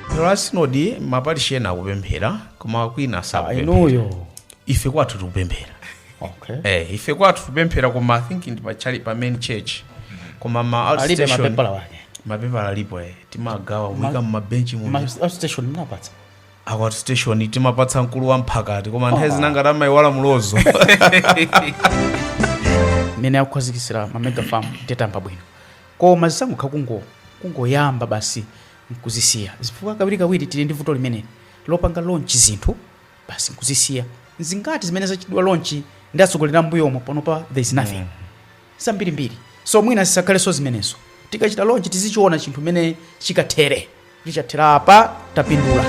phero la sinodi maparishi ena akupemphera koma kwina sakupemphera inuyo ife kwathu tikupemphera okay eh, ife kwathu tikupemphera koma i think ndi pachali pa main church koma ma alibe outstation mapepala wake mapepala alipo eh, timagawa kuika mumabenchi mu Ma- outstation mnapatsa Aku outstation timapatsa mkulu wa mphakati koma nthawi zina ngati amayiwala mulozo. mmene akukhazikitsira ma mega farm tayamba bwino koma zisangokhala kungo kungoyamba basi nkuzisiya chifukwa kawiri kawiri tili ndi vuto limeneli lopanga launch zinthu basi nkuzisiya zingati zimene zachitidwa launch ndi atsogoleri ambuyomo panopa there is nothing zambirimbiri so mwina zisakhalenso zimenezo tikachita launch tizichiona chinthu mmene chikathere Kuti chathera apa tapindula.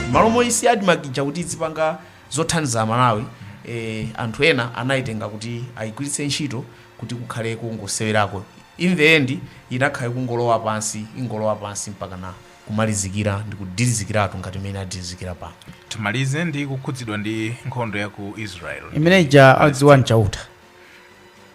Mmalo moyisiya Admarc ija kuti idzipanga zothandiza a Malawi, eeh anthu ena anayitenga kuti ayigwiritse ntchito kuti kukhale kongosewerako. In the end inakhala ikungolowa pansi, ingolowa pansi mpakana kumalizikira ndi kudilizikiratu ngati mmene yadilizikira pano. Timalize ndi kukhudzidwa ndi nkhondo ya ku Israel ndi Palestine. Imene ija adziwa nchauta.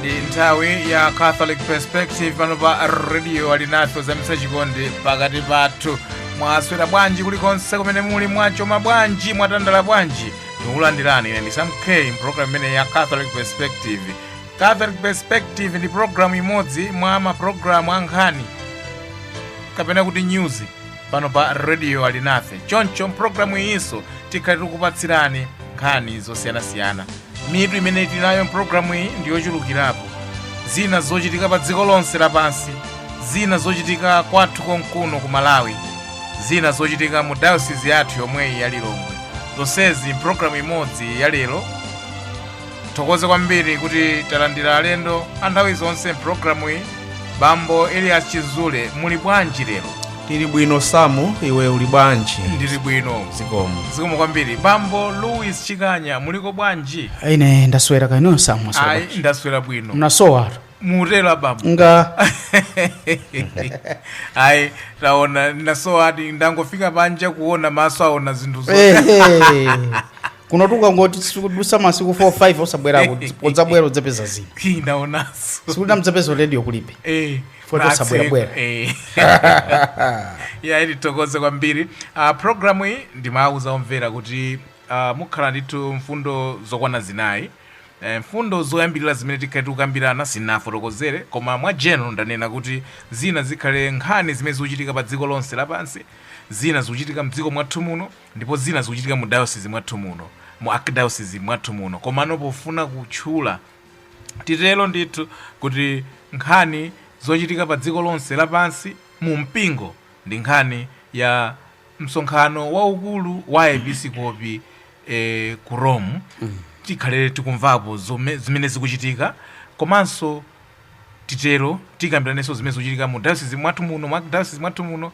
ndi nthawi ya catholic perspective pano pa radio alinafe zamitsa chikondi pakati pathu mwaswera bwanji kulikonse kumene muli mwachoma bwanji mwatandala bwanji ndikulandirani ine ndi sam k mpulogalamu imene ya catholic perspective catholic perspective ndi pulogalamu imodzi mwa mapulogalamu a nkhani kapena kuti news pano pa radio alinafe choncho mpulogalamu iyinso tikhale tikupatsirani nkhani zosiyanasiyana mitu imene tili nayo mpulogalamu iyi ndi yochulukirapo zina zochitika pa dziko lonse lapansi zina zochitika kwathu konkuno ku malawi zina zochitika mu dayosizi yathu yomweyi ya lilongwe zonsezi mpulogalamu imodzi ya lero tithokoze kwambiri kuti talandira alendo a nthawi zonse mpulogalamu iyi bambo elias chizule muli bwanji lero tili bwino samu iwe uli bwanji ndili bwino zikomo zikomo kwambiri bambo louis chikanya muliko bwanji ine ndaswera kaya inuyo samu ayi ndaswera bwino mnasowa mutero abambo nga ayi taonananso adi ndangofika panja kuona maso aona zinthu zo Ehe. kunotu ukangoti ukudutsa masiku 4 5 osabwerako udzabwera udzapeza zinthu ndaonanso tsiku lina mudzapeza radio kulibe Eh, Fuata na sabwera bwera. atseka, eh. ya ayi tithokoze kwambiri uh, programu iyi ndimawuza omvera kuti uh, mukhala ndithu mfundo zokwana zinayi Mfundo zoyambilira zimene tikhale tikukambirana sindinafotokozere koma mwa general ndanena kuti zina zikhale nkhani zimene zikuchitika pa dziko lonse lapansi, zina zikuchitika mdziko mwathu muno ndipo zina zikuchitika mu dayosizi mwathu muno, mu arkdayosizi mwathu muno komano pofuna kutchula titero ndithu kuti nkhani zochitika pa dziko lonse lapansi mu mpingo ndi nkhani ya msonkhano waukulu wa aepisikopi eh, ku rome tikhale tikumvapo zome- zimene zikuchitika komanso titero tikambiranenso zimene zikuchitika mu dayosizi mwathu muno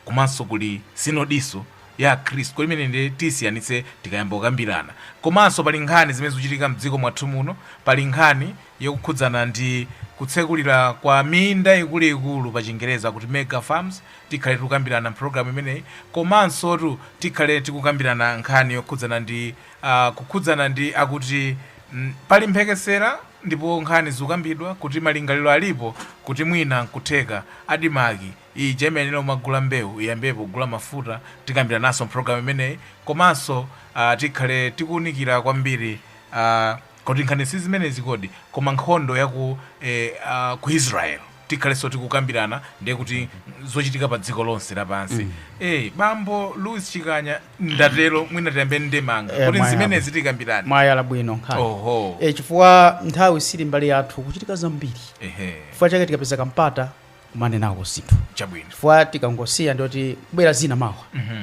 komanso kuli sinodiso ya akhristu kodi imene ndiye tisiyanitse tikayamba kukambirana komanso pali nkhani zimene zikuchitika mdziko mwathu muno pali nkhani yokukhudzana ndi kutsekulira kwa minda ikuluikulu pa chingereza kuti mega farms Tikhale tikukambirana mpologalamu imeneyi komansotu tikhale tikukambirana nkhani yokhudzana ndi ah, kukhudzana ndi akuti mm, pali mphekesera ndipo nkhani zikukambidwa kuti malingaliro alipo kuti mwina nkutheka adimaki ija imanena kumagula mbewu iyambepo kugula mafuta tikambirananso mpologalamu imeneyi komanso ah, tikhale tikuwunikira kwambiri ah, Kodi nkhani si zimenezi kodi? Koma nkhondo ya ku eh, ah, ku Israel tikhalenso tikukambirana ndiye kuti zochitika pa dziko lonse lapansi eh, bambo Louis Chikanya ndatero mwina tiyambe ndemanga Eh, kuti zimenezi tikambirane mwayala bwino nkhani oho e, chifukwa nthawi sili mbali yathu kuchitika zambiri ehe chifukwa chake tikapeza kampata kumanenako zinthu chabwino chifukwa tikangosiya ndiye kuti kubwera zina mawa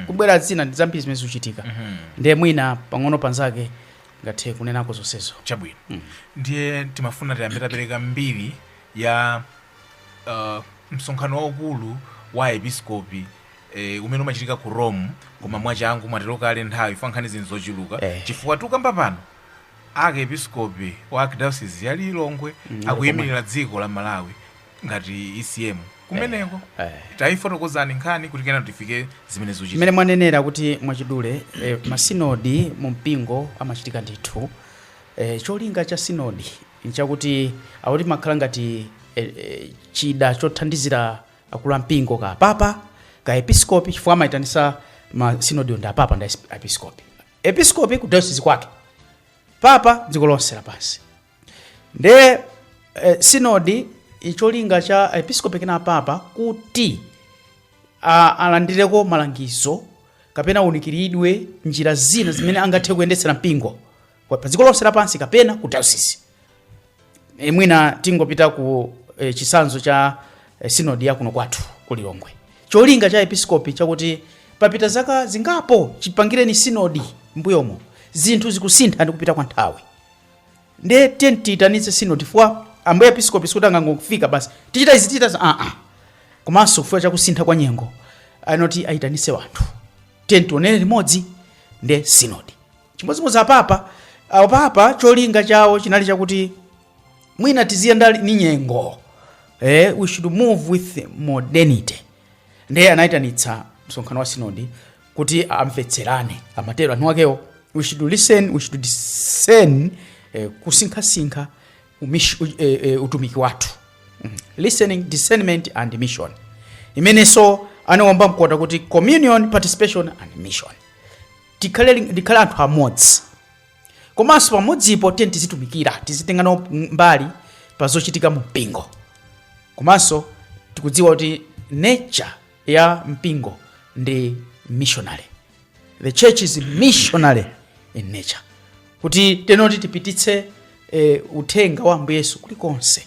kubwera zina ndi zambiri zimene zikuchitika ndiye mwina pang'ono panzake ngathe kunenako zonsezo. Chabwino. Ndiye timafuna tiyambe tapereka mbiri ya uh, msonkhano waukulu wa aepiskopi eh, umene umachitika ku Rome koma mwachangu mwatero kale nthawi chifukwa nkhani zinthu zochuluka Eh. chifukwa tikukamba pano archiepiskopi wa archdiocese ya Lilongwe akuyimirira dziko la Malawi ngati ECM kumeneko eh. taifotokozani nkhani kuti kena tifike zimene zuchitika mmene mwanenera kuti mwachidule eh, masinodi mu mpingo amachitika ndithu eh, cholinga cha sinodi nchakuti akuti imakhala ngati eh, eh, chida chothandizira akulu ampingo ka papa ka episkopi chifukwa amayitanisa masinodi ndi apapa ndi episkopi episkopi ku diocese kwake papa dziko lonse lapansi nde eh, sinodi cholinga cha episkopi kena papa kuti a- alandireko malangizo kapena aunikiridwe njira zina zimene angathe kuyendetsera mpingo kwa- pa dziko lonse lapansi kapena ku dayosisi e, mwina tingopita ku e, chitsanzo cha e, sinodi ya kuno kwathu ku lilongwe cholinga cha episkopi chakuti papita zaka zingapo chipangireni sinodi mbuyomo zinthu zikusintha ndi kupita kwa nthawi ndiye tiyeni tiyitanitse sinodi chifukwa ambuye episkopi sikuti angangofika basi tichita izi tichita za aa komanso chifukwa chakusintha kwa nyengo anoti ayitanise wanthu tiyeni tionere limodzi ndi sinodi chimodzimodzi apapa apapa cholinga chawo chinali chakuti mwina tiziyenda ni nyengo eh, we should move with modernity ndiye anayitanitsa msonkhano wa sinodi kuti amvetserane amatero anthu akewo we should listen we should discern eh, kusinkhasinkha umish- u- eh, eh, utumiki wathu Mm. listening discernment and mission imenenso anawomba mkota kuti communion participation and mission tikhale li- tikhale anthu amodzi komanso pamodzipo tiyeni tizitumikira tizitenga nawo mbali pa zochitika mu mpingo komanso tikudziwa kuti nature ya mpingo ndi missionary the church is missionary in nature kuti tenoti tipititse eh, uthenga wa ambuye yesu kulikonse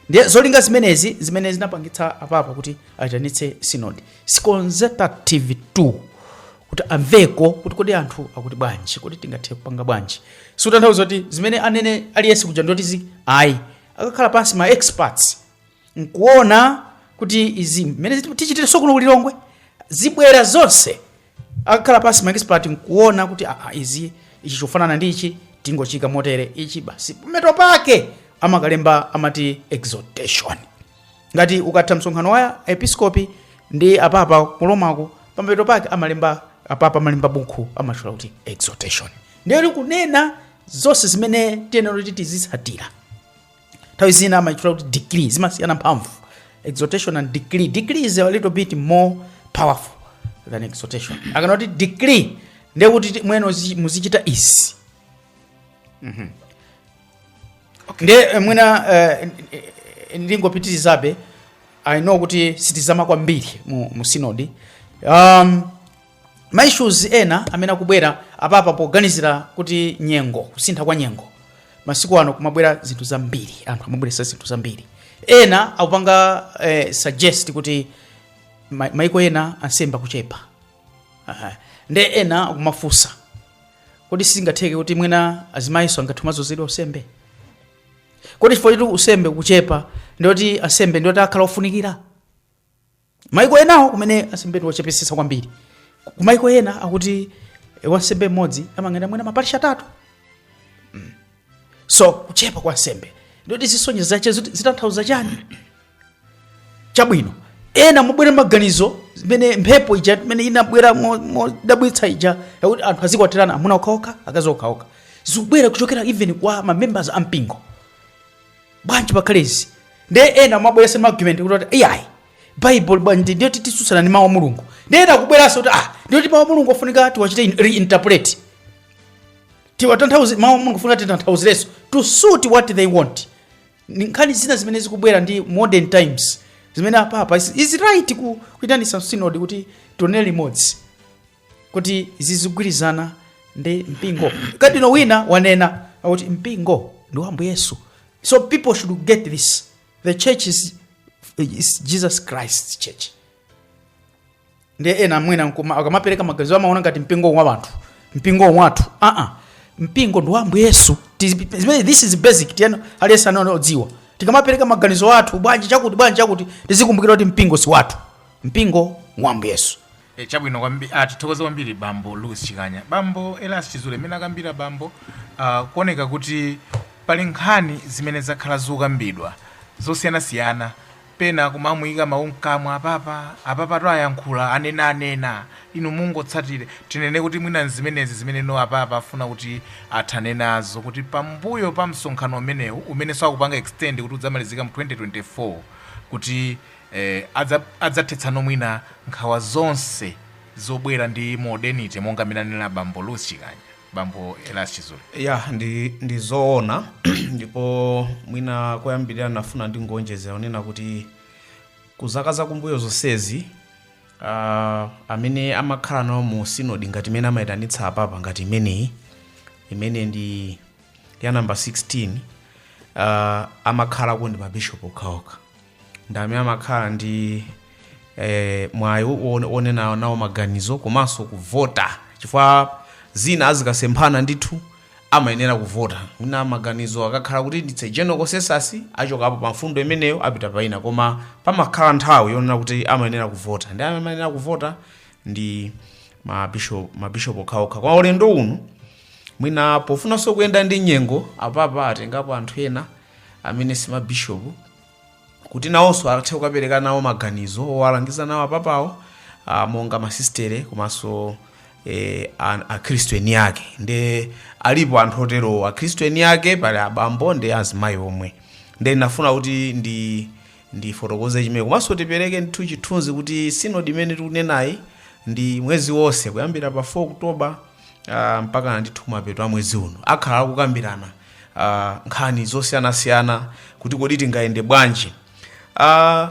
ndiye zolinga zimenezi zimene zinapangitsa apapa kuti ayitanitse sinodi consultative tool kuti amveko kuti kodi anthu akuti bwanji kodi tingathe kupanga bwanji sikutanthauza kuti zimene anene aliyense kuja ndoti zi ayi akakhala pansi ma experts nkuona kuti izi mmene tichitirenso kuno ku lilongwe zibwera zonse akakhala pansi maexpert nkuona kuti aa izi ichi chofanana ndi ichi tingochika motere ichi basi pamathero pake amakalemba amati exhortation ngati ukatha msonkhano wa episkopi ndi apapa ku Romako pamathero pake amalemba apapa amalemba buku amatchula kuti exhortation ndiye likunena zonse zimene tiyenera kuti tizitsatira nthawi zina amaitchula kuti decree zimasiyana mphamvu exhortation and decree decree is a little bit more powerful than exhortation akanena kuti decree ndiye kuti ti- mwene uzi- muzichita izi Mhm. ndiye eh, mwina eh, n- n- ndingopitirizabe i know kuti sitizama kwambiri mu, mu sinodi um, ma issues ena amene akubwera apapa poganizira kuti nyengo kusintha kwa nyengo masiku ano kumabwera zinthu zambiri anthu amabweresa zinthu zambiri ena akupanga eh, suggest kuti ma- maiko ena ansembe akuchepa Aha. nde ena akumafunsa kodi sizingatheke kuti mwina azimayiso angathe kumazozedwa usembe kodi chifukwa choti usembe kuchepa ndiyoti ansembe ndiyoti akhala ofunikira maiko enawo kumene ansembe ndiwochepesesa kwambiri Ku- kumaiko ena akuti eh, wansembe mmodzi amayang'anira mwina maparishi atatu Mm. so kuchepa kwa ansembe ndoti zisonyezo zache ziti- zitanthauza chani chabwino ena amabwera maganizo zimene mphepo ija imene inabwera mo- modabwitsa ija yakuti anthu azikwatirana amuna okhaokha akazi okhaokha zikubwera kuchokera even kwa mamembers a mpingo bwanji pakhale izi nde ena amabweresa ma argument kuti iyayi bible bwanji ndiyo titsutsana ndi mawu a mulungu nde ena akubweresa kuti ah ndiyo ti mawu a mulungu afunika tiwachite in- reinterpret tiwatanthauze mawu a mulungu afunika titanthauzireso to suit what they want Ni nkhani zina zimene zikubwera ndi modern times zimene apapa is, is right kuitanisa synod kuti tionere limodzi kuti zizigwirizana ndi mpingo kadino wina wanena kuti mpingo ndi wa ambuye yesu so people should get this the church is, is jesus christ's church ndi ena mwina nkuma- akamapereka maganizo amaona ngati mpingo wa wanthu mpingo wathu aa mpingo ndi wa ambuye yesu Tizi- zimene- this is basic tiyeni aliyense azidziwa tikamapereka maganizo athu bwanji chakuti bwanji chakuti tizikumbukira kuti mpingo si wathu mpingo wa ambuye yesu E, chabwino kwambi, a, tithokoze kwambiri bambo Louis Chikanya. Bambo Elias Chizule mmene akambira bambo a, kuoneka kuti pali nkhani zimene zakhala zikukambidwa zosiyanasiyana pena kumamuyika mawu mkamwa apapa apapa to ayankhula anena anena inu mungotsatire tinene kuti mwina nzimenezi zimene no apapa afuna kuti athane nazo kuti pambuyo pa msonkhano umenewu umenenso aupanga extend kuti udzamalizika mu 2024 kuti Eh, adza, adzathetsa mwina nkhawa zonse zobwera ndi modernity monga mmene anena bambo Louis Chikanya, bambo Elias Chizule. ya ndi, ndi zoona ndipo mwina koyambirira ndafuna ndingonjezera kunena kuti ku zaka zakumbuyo zonsezi uh, amene amakhala nawo mu sinodi ngati imene amayitanitsa apapa ngati imeneyi imene ndi ya namba 16 uh, amakhalako ndi mabishopu okhaokha ndi amene amakhala ndi eh, mwayi wo- wonena nawo maganizo komanso kuvota chifukwa zina zikasemphana ndithu amayenera kuvota mwina maganizo akakhala kuti ndi general consensus achokapo pa mfundo imeneyo apita paina koma pamakhala nthawi yonena kuti amayenera kuvota nde amene amayenera kuvota ndi mabishop mabishop okhaokha kwa ulendo uno mwina pofunanso kuyenda ndi nyengo apapa atengapo anthu ena amene si mabishopu kuti nawonso athe kukapereka nawo maganizo owalangiza nawo apapawo ah, monga masistere komanso eh, an- akhristu eni ake nde alipo anthu oterowo akhristu eni ake pali abambo ndi azimayi omwe nde ndinafuna kuti ndi ndifotokoze chimene komanso tipereke ndithu chithunzi kuti sinodi imene tikunenayi ndi mwezi onse kuyambira pa 4 oktoba uh, mpakana ndithu kumapeto a mwezi uno akhala akukambirana uh, nkhani zosiyanasiyana kuti kodi tingayende bwanji uh,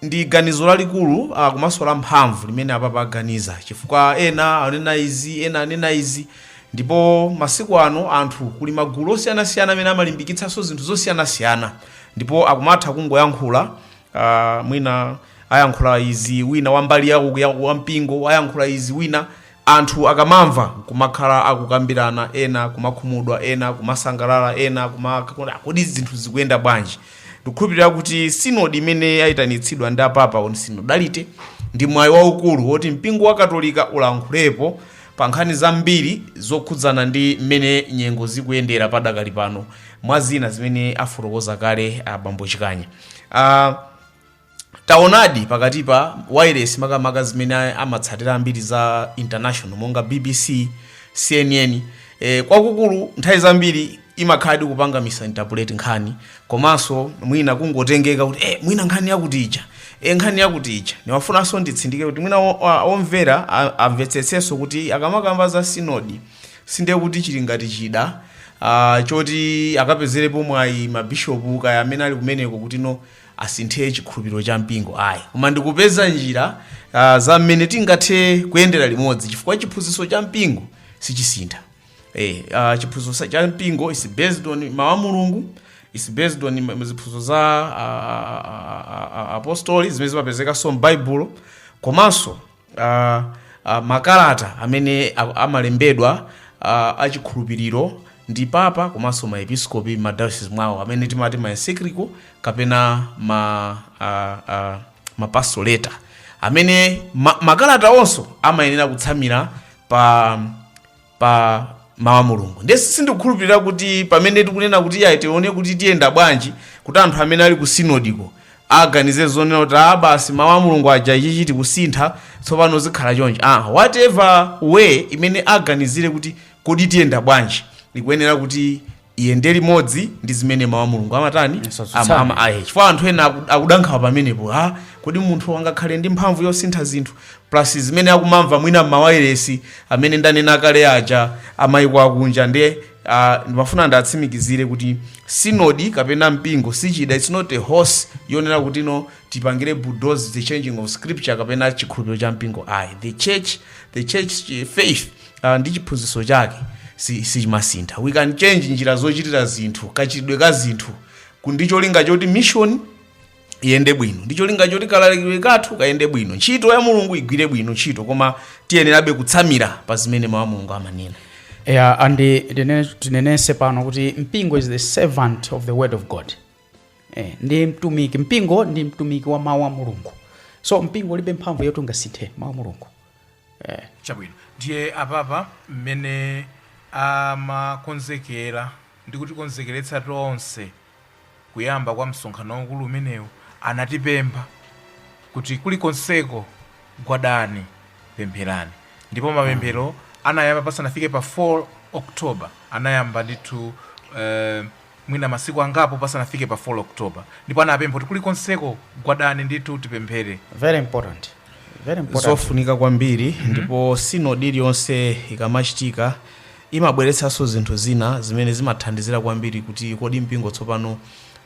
ndi ganizo lalikulu uh, komanso la mphamvu limene apapa aganiza chifukwa ena anena izi ena anena izi ndipo masiku ano anthu kuli magulu osiyanasiyana amene amalimbikitsanso zinthu zosiyanasiyana ndipo akumatha kungoyankhula uh, mwina ayankhula izi wina wambali yawo ya- wampingo ayankhula izi wina Anthu akamamva nkumakhala akukambirana ena kumakhumudwa ena kumasangalala ena kuma- a kodi zinthu zikuyenda bwanji? Ndikukhulupirira kuti sinodi imene yaitanitsidwa ndi apapa on synodality ndi mwayi waukulu woti mpingo wa katolika ulankhulepo pa nkhani zambiri zokhudzana ndi mmene nyengo zikuyendera padakali pano mwa zina zimene afotokoza kale abambo Chikanya. Uh, taonadi pakati pa wireless makamaka zimene amatsatira ambiri za international monga bbc cnn e, kwakukulu nthawi zambiri imakhaladi kupanga misinterpret nkhani komanso mwina kungotengeka kuti e, mwina nkhani yakuti ija e, nkhani yakuti ija ndimafunanso nditsindike kuti mwina o- a- omvera a- amvetsetsenso kuti akamakamba za sinodi sindiye kuti chili ngati chida ah, choti akapezerepo mwayi mabishopu kaya amene ali kumeneko kuti no asinthe chikhulupiriro cha mpingo ayi, koma ndi kupeza njira ah, za mmene tingathe kuyendera limodzi chifukwa chiphunzitso cha mpingo sichisintha. Eh, ah, chiphunzitso sa- cha mpingo is based on mawu a Mulungu is based on ma- ziphunzitso za ah, ah, ah, ah, apostoli zimene zimapezekanso m'Baibulo komanso uh, uh, makalata amene a- amalembedwa uh, achikhulupiriro ndi papa komanso maepiskopi madayosizi mwawo amene timati maencyclical kapena ma, uh, uh, mapastoral letter amene ma, makalata onso amayenera kutsamira pa pa mawu a mulungu nde si- sindikukhulupirira kuti pamene tikunena kuti ayi tione kuti tiyenda bwanji kuti anthu amene ali ku sinodiko aganize zonena kuti a basi mawu a mulungu aja ichichi tikusintha tsopano zikhala chonje ah, whatever way imene aganizire kuti kodi tiyenda bwanji ikuyenera kuti iyende limodzi ndi zimene mawu a mulungu amatani Asatsutsane. Ama- ama- ayi. chifukwa anthu ena aku- akuda nkhawa pamenepo a kodi munthu angakhale ndi mphamvu yosintha zinthu plus zimene akumamva mwina m'mawayiresi amene ndanena kale aja amayiko akunja ndiye ah, ndimafuna nditsimikizire kuti sinodi kapena mpingo si chida its not a horse yonena kuti no tipangire bulldoze the changing of scripture kapena chikhulupiriro cha mpingo ayi the church the church eh, faith uh, ndi chiphunzitso chake si- sichimasintha we can change njira zochitira zinthu kachitidwe ka zinthu ku- ndi cholinga choti mission iyende bwino ndi cholinga choti kalalikidwe kathu kayende bwino ntchito ya mulungu igwire bwino ntchito koma tiyenerabe kutsamira pa zimene mawu a mulungu amanena yeah, and tinene- tinenetse pano kuti mpingo is the servant of the word of god eh, ndi mtumiki mpingo ndi mtumiki wa mawu a mulungu so mpingo ulibe mphamvu yoti ungasinthe mawu a mulungu eh. chabwino ndiye apapa mmene amakonzekera ndi kutikonzekeretsa tonse kuyamba kwa msonkhano waukulu umenewu anatipempha kuti kulikonseko gwadani pempherani ndipo mapemphero anayamba pasanafike pa 4 october anayamba ndithu eh, mwina masiku angapo pasanafike pa 4 October ndipo anapempha kuti kulikonseko gwadani ndithu tipemphere. Very important. Very important. zofunika kwambiri ndipo sinodi iliyonse ikamachitika imabweretsanso zinthu zina zimene zimathandizira kwambiri kuti kodi mpingo tsopano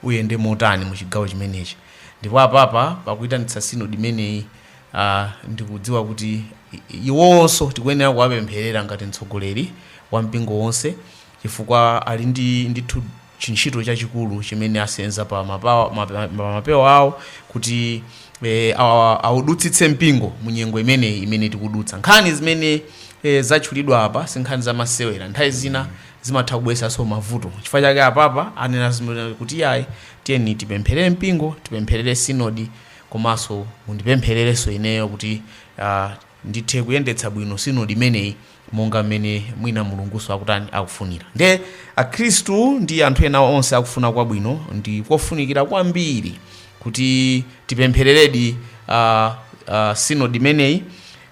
uyende motani mu chigawo chimenechi ndipo apapa pakuyitanitsa sinodi imeneyi ah, ndikudziwa kuti i- iwonso tikuyenera kuwapempherera ngati mtsogoleri wa mpingo wonse chifukwa ali ndi ndithu chintchito chachikulu chimene asenza pa mapawa- ma- ma- ma- mapewa awo kuti eh, awa- awudutsitse mpingo mu nyengo imeneyi imene tikudutsa nkhani zimene eh, zatchulidwa apa si nkhani zamasewera nthawi zina zimatha kubweretsanso mavuto chifukwa chake apapa anena zimene kuti yayi tiyeni tipempherere mpingo tipempherere sinodi komanso mundipemphererenso ineyo kuti ah, ndithe kuyendetsa bwino sinodi imeneyi monga mmene mwina Mulungunso akutani, akufunira. Ndiye akhristu ndi anthu ena onse akufuna kwabwino ndi kofunikira kwambiri kuti tipemphereredi a, a, sinodi imeneyi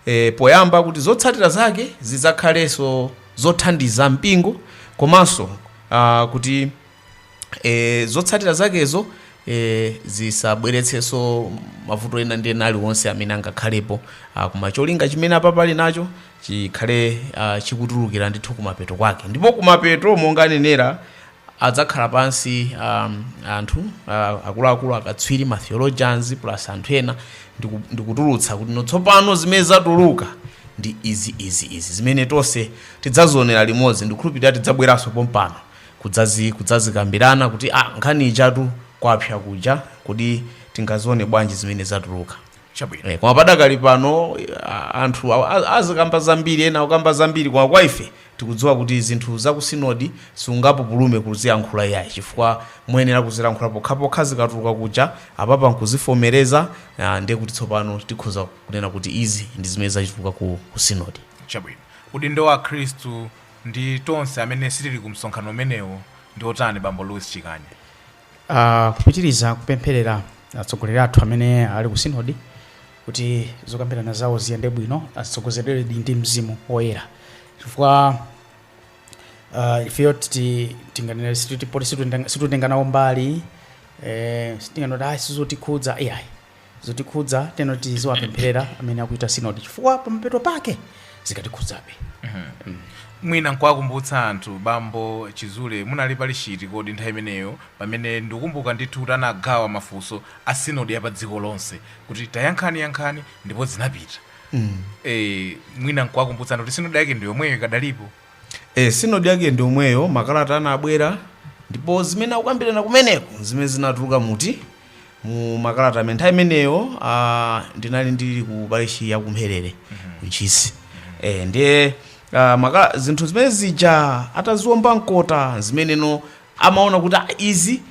e, poyamba kuti zotsatira zake zidzakhalenso zothandiza mpingo komanso a, kuti e, zotsatira zakezo e, zisabweretsenso mavuto ena ndi ena aliwonse amene angakhalepo ah, koma cholinga chimene apapa ali nacho chikhale ah, chikutulukira ndithu kumapeto kwake ndipo kumapeto monga anenera adzakhala pansi um, anthu uh, akuluakulu akatswiri ma theologians plus anthu ena ndiku- ndikutulutsa kuti no tsopano zimene zatuluka ndi izi izi izi zimene tonse tidzazionera limodzi ndikhulupirira tidzabweranso pompano kudzazi kudzazikambirana kuti ah nkhani ijatu kwapsa kuja kodi tingazione bwanji zimene zatuluka chabwino Eh, koma padakali pano a- anthu a- a- azikamba zambiri ena akukamba zambiri koma kwa ife tikudziwa kuti zinthu za ku sinodi sungapupulume kuzilankhula iyayi chifukwa muyenera kuzilankhula pokhapokha zikatuluka kuja apapa nkuzivomereza ah, ndiye kuti tsopano tikhoza kunena kuti izi ndi zimene zachi- zatuluka ku, ku sinodi chabwino udindo wa akhristu ndi tonse amene sitili ku msonkhano umenewo ndi otani bambo louis chikanya Ah, kupitiriza kupempherera atsogoleri athu amene ali ku sinodi kuti zokambirana zawo ziyende bwino atsogozedwe ndi mzimu woyera chifukwa ah, ifeyo titi- tinganena kuti poti situtenga- situtenga nawo mbali eh, sitinganoti ayi sizotikhudza iyayi zotikhudza teno tiziwapempherera amene akuita sinodi chifukwa pamapeto pake zikatikhudzabe mwina nkuwakumbutsa anthu bambo chizule munali pali chiti kodi nthawi imeneyo pamene ndikukumbuka ndithu kuti anagawa mafunso a sinodi ya pa dziko lonse kuti tayankhani yankhani ndipo zinapita e, mwina nkuwakumbutsa anthu kuti sinodi yake ndi yomweyo ikadalipo e, sinodi yake ndi yomweyo makalata anabwera ndipo zimene akukambirana kumeneko nzimene zinatuluka muti mu makalata amene nthawi imeneyo ah, ndinali ndili ku parishi ya ku mpherere ku ntchisi eh, ndiye ah, makala- zinthu zimene zija ataziomba mkota zimeneno amaona kuti ah, izi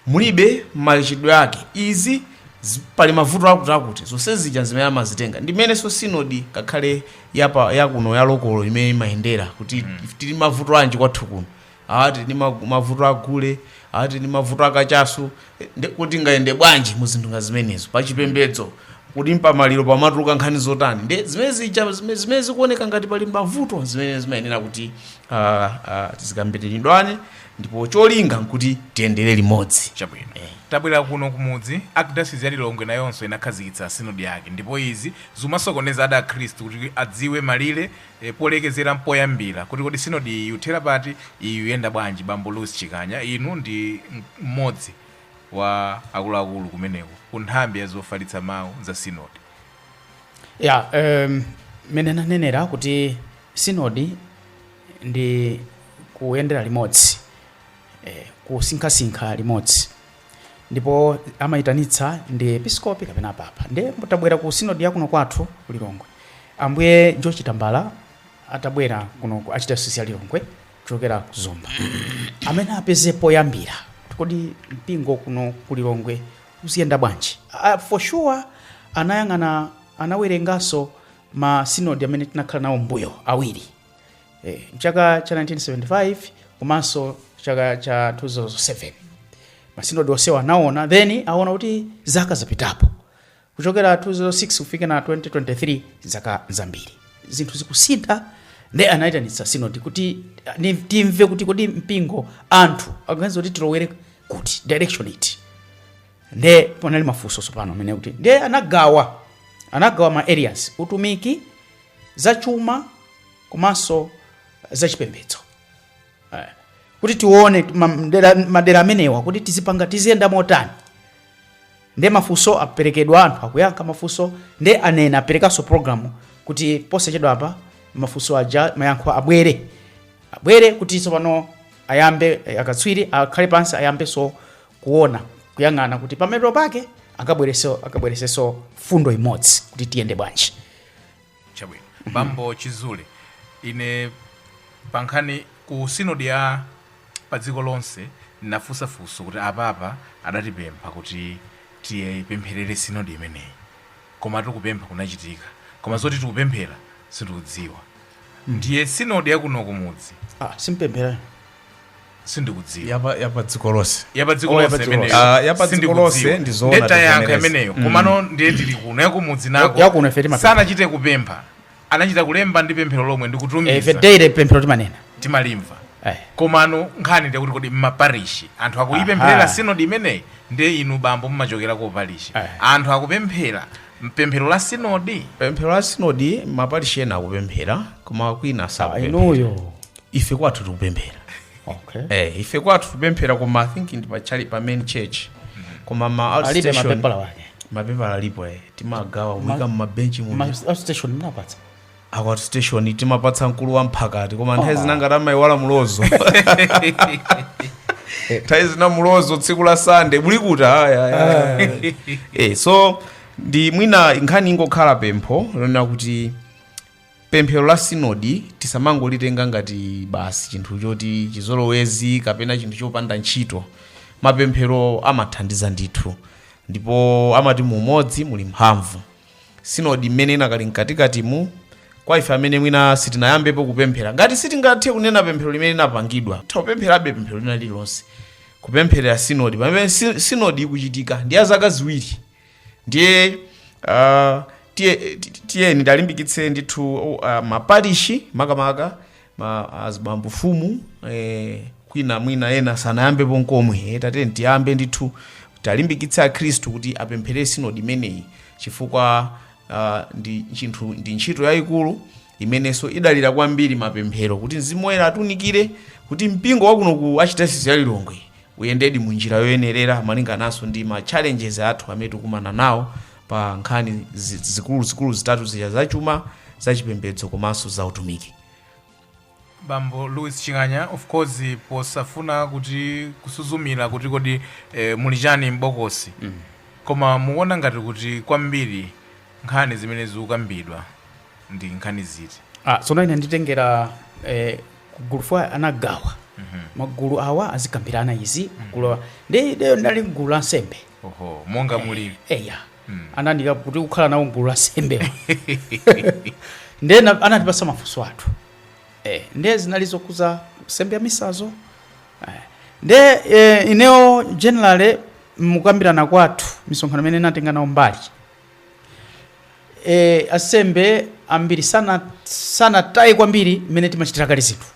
mulibe machitidwe ake izi zi- pali mavuto akuti akuti zonse zija zimene amazitenga ndimenenso sinodi ngakhale yapa yakuno ya lokolo imene imayendera kuti tili mavuto anji kwathu kuno aa tili ndi ma- mavuto a gule aa tili ndi mavuto a kachasu Eh, nde kuti ngayende bwanji mu zinthu nga zimenezo pa chipembedzo kuti mpamaliro pamatuluka nkhani zotani nde zimene zija zimene zimene zikuoneka ngati pali mavuto zimene zimayenera kuti ah, ah, zikambiridwane ndipo cholinga nkuti tiyendere limodzi chabwino tabwera kuno kumudzi archdiocese ya lilongwe nayonso inakhazikitsa sinodi yake ndipo izi zimasokoneza ena akhristu kuti adziwe malire e Polekezera mpoyambira kuti kodi sinodi iyi ikuthera pati, iyi ikuyenda bwanji, bambo Louis Chikanya inu ndi mmodzi wa akuluakulu kumeneko ku nthambi ya zofalitsa mau za sinodi. Ya, em, mmene nanenera kuti sinodi ndi kuyendera limodzi eh, kusinkhasinkha limodzi ndipo amayitanitsa ndi episkopi kapena papa nde mutabwera ku sinodi yakuno kwathu ku lilongwe ambuye george tambala atabwera kuno ku archdiocese ya lilongwe kuchokera ku zomba amati apeze poyambira kuti kodi mpingo kuno ku lilongwe uziyenda bwanji uh, for sure anayang'ana anawerenganso ma sinodi amene tinakhala nawo mbuyo awiri eh, mchaka cha 1975 komanso chaka cha 2007 masinodi onsewa anaona then aona kuti zaka zapitapo kuchokera 2006 kufika na 2023 zaka zambiri zinthu zikusintha nde anayitanitsa sinodi kuti ah, ni- timve kuti kodi mpingo anthu akuganiza kuti tilowere kuti direction iti nde panali mafunso tsopano amene kuti nde anagawa anagawa ma areas utumiki zachuma komanso zachipembedzo eh, kuti tione madera amenewa kuti tizipanga tiziyenda motani nde mafunso aperekedwa anthu akuyankha mafunso nde anena aperekanso programu kuti posachedwa apa mafunso aja mayankho abwere abwere kuti tsopano ayambe eh, akatswiri akhale pansi ayambenso kuona kuyang'ana kuti pamathero pake akabwereseso fundo imodzi kuti tiyende bwanji chabwino bambo chizule ine pankhani ku sinodi ya pa dziko lonse ndinafunsa funso kuti apapa adatipempha kuti tipempherere sinodi imeneyi koma kupempha kunachitika koma zoti tikupemphera sindikudziwa ndiye sinodi yakuno kumudzi ah simpemphera sindikudziwa yapa yapa dziko lonse yapadziko Oh, lonse yapadziko imeneyo. lonse. Ah, yapadziko Sindikudziwa. lonse ndi zoona Ndeta yankho tivomereze. imeneyo Mm. komano ndiye tili kuno yakumudzi nako yakuno ife timapempha. sanachite kupempha anachita kulemba ndi pemphero lomwe ndi kutumiza ife daily pemphero timanena timalimva Eh. komano nkhani ndikuti kodi mmaparishi anthu akuyipempherera Aha. sinodi imeneyi ndiye inu bambo mumachokera ku parishi Eh. anthu akupemphera mpemphero la sinodi pemphero la sinodi maparishi ena akupemphera koma kwina sakupemphera inuyo ife kwathu tikupemphera okay. eh, ife kwathu tikupemphera koma i think ndi pa chali- pa main church koma ma alibe outstation mapepala wake mapepala alipo eh, timagawa kuika mumabenchi mu Ma- outstation mnapatsa aku outstation timapatsa mkulu wa mphakati koma nthawi zina ngati amayiwala mlozo nthawi zina mlozo tsiku la sande mulikuta aya, aya, aya. eh, so ndi mwina nkhani ingokhala pempho lonena kuti pemphero la sinodi tisamangolitenga ngati basi chinthu choti chizolowezi kapena chinthu chopanda ntchito mapemphero amathandiza ndithu ndipo amati mu umodzi muli mphamvu sinodi imene inakali mkatikatimu kwa ife amene mwina sitinayambepo kupemphera ngati sitingathe kunena pemphero limene linapangidwa tapempherabe pemphero lina lililonse kupempherera sinodi pamene si- sinodi ikuchitika ndi ya zaka ziwiri ndiye uh, tiye- ti- tiyeni talimbikitse ndithu uh, maparishi makamaka ma azibambo fumu eh, kwina mwina ena sanayambepo nkomwe eh, tatiyeni tiyambe ndithu talimbikitse akhristu kuti apemphere sinodi imeneyi chifukwa uh, ndi chinthu ndi ntchito yayikulu imenenso idalira kwambiri mapemphero kuti mzimu woyera atunikire kuti mpingo wakuno ku archdiocese ya lilongwe uyendedi mu njira yoyenerera malingananso ndi ma challenges athu amene tikumana nawo pa nkhani zi- zikuluzikulu zitatu zija zachuma zachipembedzo komanso za utumiki bambo louis chikanya of course posafuna kuti kusuzumira kuti kodi eh, muli chani m'bokosi mm. koma mukuona ngati kuti kwambiri nkhani zimene zikukambidwa ndi nkhani ziti Ah, tsono ine nditengera eh, kugulu fwa anagawa magulu awa azikambirana izi magulu awa nde ineyo ndinali mgulu la ansembe oho monga mulili eya anandiika kuti kukhala nawo mgulu la ansembe nde na- anatipasa mafunso athu eh, nde zinali zokhudza nsembe ya misazo eh, nde eh, ineyo generally mukambirana kwathu misonkhano imene natenga nawo mbali e, ansembe ambiri sana sanataye kwambiri mmene timachitira kale zinthu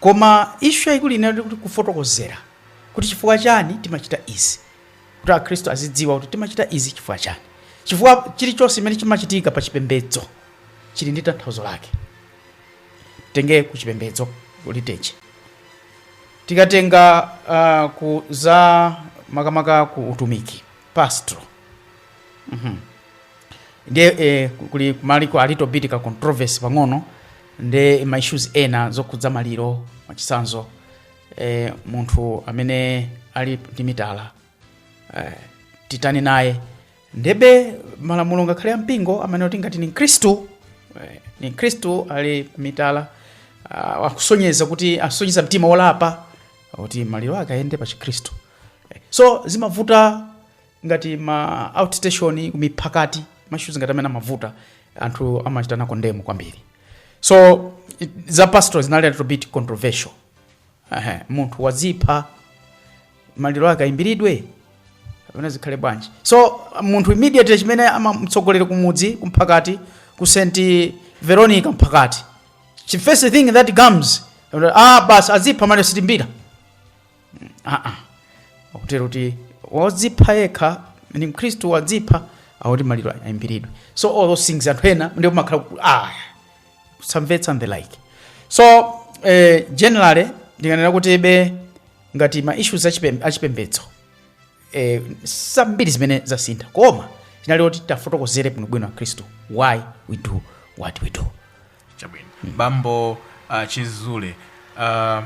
koma issue yayikulu inali kuti kufotokozera kuti chifukwa chani timachita izi kuti akhristu azidziwa kuti timachita izi chifukwa chani chifukwa chilichonse chimene chimachitika pa chipembedzo chili ndi tanthauzo lake tenge ku chipembedzo liturgy tikatenga uh, ku za makamaka ku utumiki pastoral Mhm. ndiye eh, kuli kunaliko a little bit ka controversy pang'ono ndi ma issues ena zokhudza maliro mwachitsanzo eh, munthu amene ali ndi mitala eh, titani naye ndebe malamulo ngakhale a mpingo amanena kuti ngati ni mkhristu eh, ni mkhristu ali mitala ah, akusonyeza kuti asonyeza mtima wolapa kuti maliro ake ayende pa chikhristu so zimavuta ngati ma outstation kumiphakati ma issues ngati amene amavuta anthu amachita nako ndemo kwambiri so it- za pastoral zinali a little bit controversial Ehe, munthu wazipha maliro ake ayimbiridwe kapena zikhale bwanji so munthu immediately chimene amamtsogoleri kumudzi kumphakati ku st veronica mphakati the first thing that comes ah basi azipha maliro sitiyimbira aa akutero kuti wozipha yekha ni mkhristu wazipha akuti maliro ayimbiridwe so all those things anthu ena ndiye amakhala ku- ah kusamvetsa and the like so eh, generally ndinganena kuti be ngati ma issues achipem- achipembedzo eh, zambiri zimene zasintha koma chinali kuti tiwafotokozere bwinobwino akhristu why we do what we do chabwino bambo uh, chizule uh,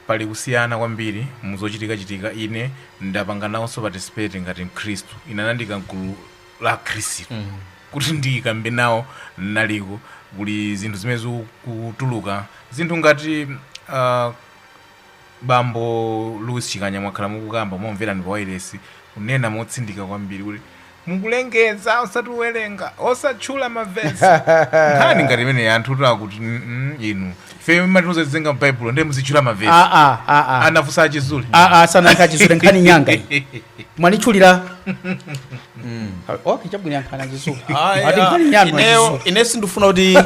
pali kusiyana kwambiri muzochitika chitika ine ndapanga nawonso participate ngati mkhristu ine anandiika mgulu la akhristu mm. kuti ndikambe nawo naliko kuli zinthu zimene zikutuluka zinthu ngati uh, Bambo Louis Chikanya mwakhala mukukamba umakumverani pa wailesi kunena motsindika kwambiri kuti mukulengeza osati kuwerenga osatchula mavesi nkhani ngati imeneyi anthu kuti akuti "Mm, mm, inu ife mumatiuza tizinyamula m'baibulo ndiye muzitchula mavesi Ah, ah, ah, ah. anafunsa a Chizule Ah, ah, sananka chizule nkhani nyanga iyi. mwanditchulira okay chabwino yankhani a Chizule Ayi, ati ah, nkhani yanu ineyo- a Chizule ine sindifuna kuti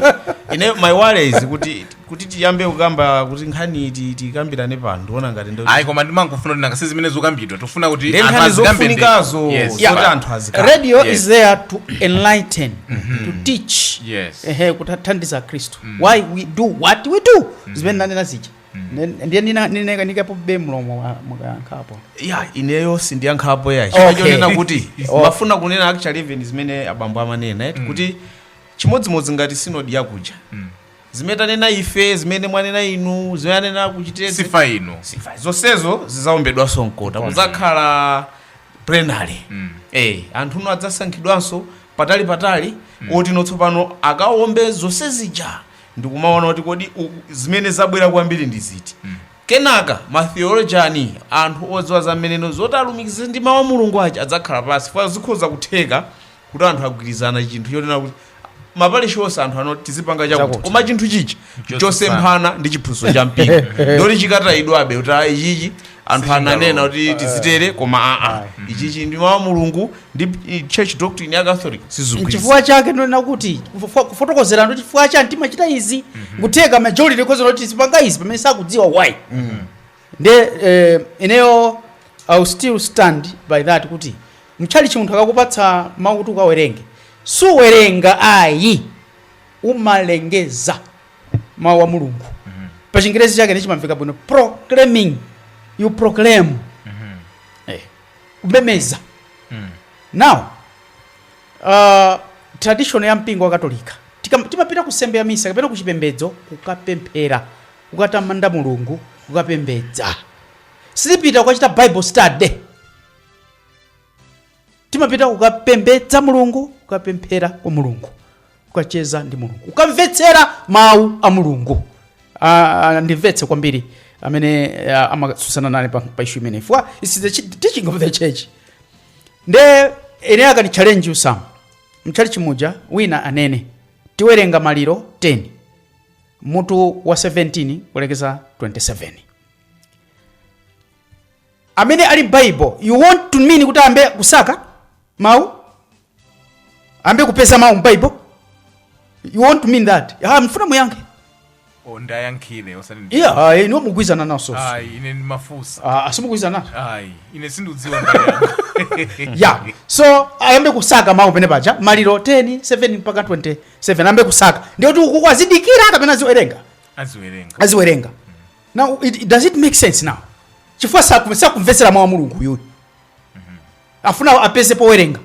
ine my worries kuti kuti tiyambe kukamba kuti nkhani ti- tikambirane pano ndiona ngati ndo- ayi koma ndimangofuna kuti nanga si zimene zikukambidwa tofuna kuti Ndi anthu nkhani azikambe ndi- zofunikazo. Yes. Yeah. Zoti anthu azikamba. radio Yes. is there to enlighten to teach Yes. ehe kuthandiza akhristu why we do what we do zimene nanena zija Ndi- ndiye ndina- ndinekapo be mlomo wa- mukayankhapo eya ineyo sindiyankhapo ayi Okay. chifukwa chonena kuti Oh. ndimafuna kunena actually even zimene abambo amanena eti kuti chimodzimodzi ngati sinodi yakuja zimene tanena ife zimene mwanena inu zimene anena ku Chitedze sifa ino sifa zonsezo zizaombedwanso mkota kuzakhala plenary eh anthu no adzasankhidwanso patali patali oti no tsopano akaombe zonse zija ndikumaona kuti kodi u- zimene zabwera kwambiri ndi ziti kenaka matheolojani anthu odziwa za mmene ndi zoti alumikize ndi mawu a mulungu aja adzakhala pansi funa zikhoza kutheka kuti anthu agwirizana chinthu chonena kuti mapalishi onse anthu anena tizipanga chakuti Chakuti. koma chinthu chichi chosemphana ndi chiphunzitso cha mpingo ndoti chikatayidwabe kuti ayi chichi anthu ananena kuti tizitero koma aa ichichi ndi mawu a mulungu ndi i- church doctrine ya catholic sizikugwirizana chifukwa chake ndonena kuti kufo- kufotokozera ndo chifukwa chani timachita izi kutheka majority ikhoza kuti tizipanga izi pamene sakudziwa why nde eh, ineyo I still stand by that kuti mtchalichi munthu akakupatsa mawu kuti ukawerenge suwerenga ayi umalengeza mawu a mulungu pa chingerezi chake ndiye chimamveka bwino proclaiming you proclaim eh, kumemeza now uh, tradition ya mpingo wa katolika Tikam- timapita ku nsembe ya misa kapena ku chipembedzo kukapemphera kukatamanda mulungu kukapembedza sitipita kukachita bible study timapita kukapembedza mulungu kukapemphera kwa mulungu kukacheza ndi mulungu kukamvetsera mawu a mulungu Ah, ah, ndimvetse kwambiri amene ah, amatsutsana nane pa, pa issue imeneyi for this is the chi- teaching of the church nde ine akatichallenge Sam mchalichi muja wina amanena tiwerenga maliro 10 mutu wa 17 kulekeza 27 amene ali bible you want to mean kuti ayambe kusaka mawu ayambe kupeza mawu mbible you want to mean that ah, mufuna muyankhe o ndayankhile osati ndi- iya ah, inuyo mugwirizana nazo ayi ine ndimafunsa ah, simugwirizana nazo ayi ine sindiudziwa ndayankha ya so ayambe kusaka mawu anene paja maliro 10 7 mpaka 27 ayambe kusaka ndiye kuti uku azidikira kapena aziwerenga aziwerenga aziwerenga now it, it does it make sense now chifukwa saku- sakumvetsera mawu a mulungu uyuyu afuna apeze powerenga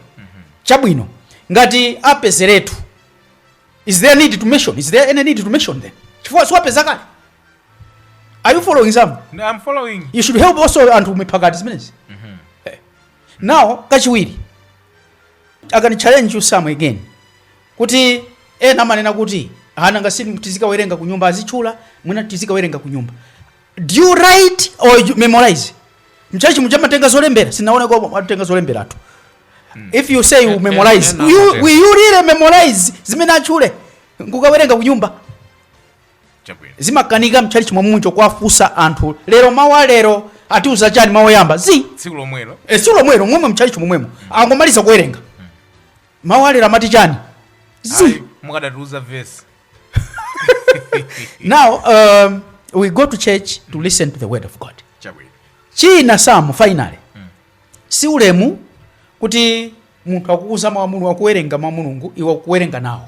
chabwino ngati apezeretu is there need to mention is there any need to mention them chifukwa siwapeza kale are you following Sam I'm following. you should help also anthu mpakati zimenezi Eh. now kachiwiri I can challenge you Sam again kuti ena amanena kuti nanga si tizikawerenga kunyumba azitchula mwina tizikawerenga kunyumba do you write or you memorize mchachi muja amatenga zolembera sindinaoneko atatenga zolemberatu hmm. if you say you memorize you, will you really memorize zimene atchule nkukawerenga kunyumba chabwino zimakanika mtchalitchi momwe muno kuwafunsa anthu lero mawu a lero atiuza chani mawu oyamba zi tsiku lomwelo e, tsiku lomwelo momwe mtchalitchi momwemo angomaliza kuwerenga mawu a lero amati chani zi Ayi, mukadatiuza vesi now um, we go to church to listen to the word of god chabwino china Sam finally si ulemu kuti munthu akukuuza mawu a mulungu akuwerenga mawu a mulungu iwe ukuwerenga nawo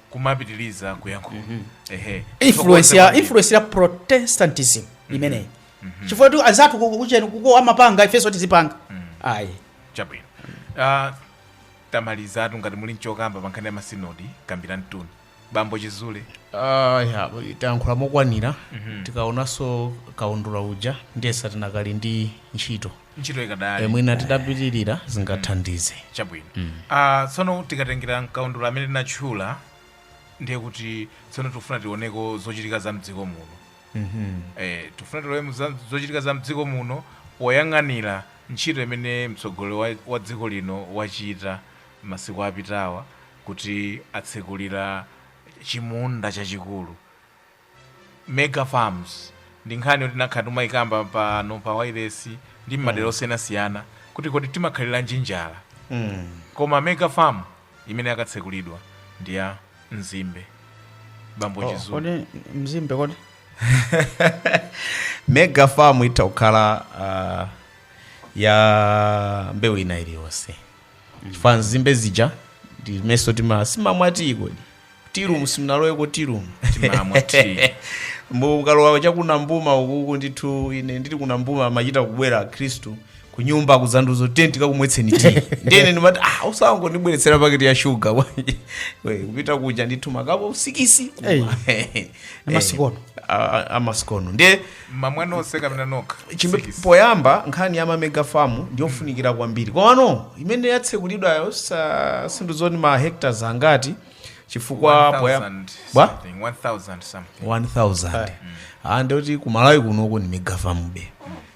kumapitiliza kuyankhula ehe influence ya Chifukwa- influence ya protestantism imeneyi chifukwa choti anzathu ku- kuchani uko amapanga ifenso tizipanga ayi chabwino Ah, tamalizatu ngati muli nchokamba pa nkhani ya masinodi kambanitu bambo chizule Ah, ya, tayankhula mokwanira tikaonanso kaundula uja ndiyesa tinakali ndi ntchito ntchito ikadali Eh, mwina titapitirira zingathandize chabwino Ah, tsono tikatengera mkaundula amene tinatchula ndiye kuti tsono tikufuna tioneko zochitika za mdziko muno eh, tikufuna tione za- zochitika za mdziko muno poyang'anira ntchito imene mtsogoleri wa, wa dziko lino wachita masiku apitawa kuti atsekulira chimunda chachikulu mega farms ndi nkhani yoti takhala tikumayikamba pano pa wailesi ndi mmadera osiyanasiyana kuti kodi timakhaliranji njala koma mega farm imene yakatsekulidwa ndi ya mzimbe bambo chizulu kodi mzimbe kodi mega farm itha kukhala uh, ya mbewu ina iliyonse chifukwa nzimbe zija ndimayesa tima timamwera tiyi kodi tirumu simunaloweko tirumu timamwa tea. mukalowa chakuna mbuma ukuku ndithu ine ndili ku Nambuma amachita kubwera akhristu kunyumba kuzandiuza tiyeni tikakumwetseni tiyi ndiyene ndimati ah osangondibweretsera paketi ya shuga bwanji." We, kupita kuja ndithu makapo sikisi Hey. Ndi masikono. amasikono ndiye mumamwa nonse kapena nokha Chimbe- Sikisi. poyamba nkhani ya mamega famu ndiyofunikira kwambiri komano imene yatsekulidwayo sa- sindidziwa ndi ma hectares angati chifukwa 1000 poyamba bwa something, 1000 something 1000 ah ndoti ku malawi kunoko ndi mega famube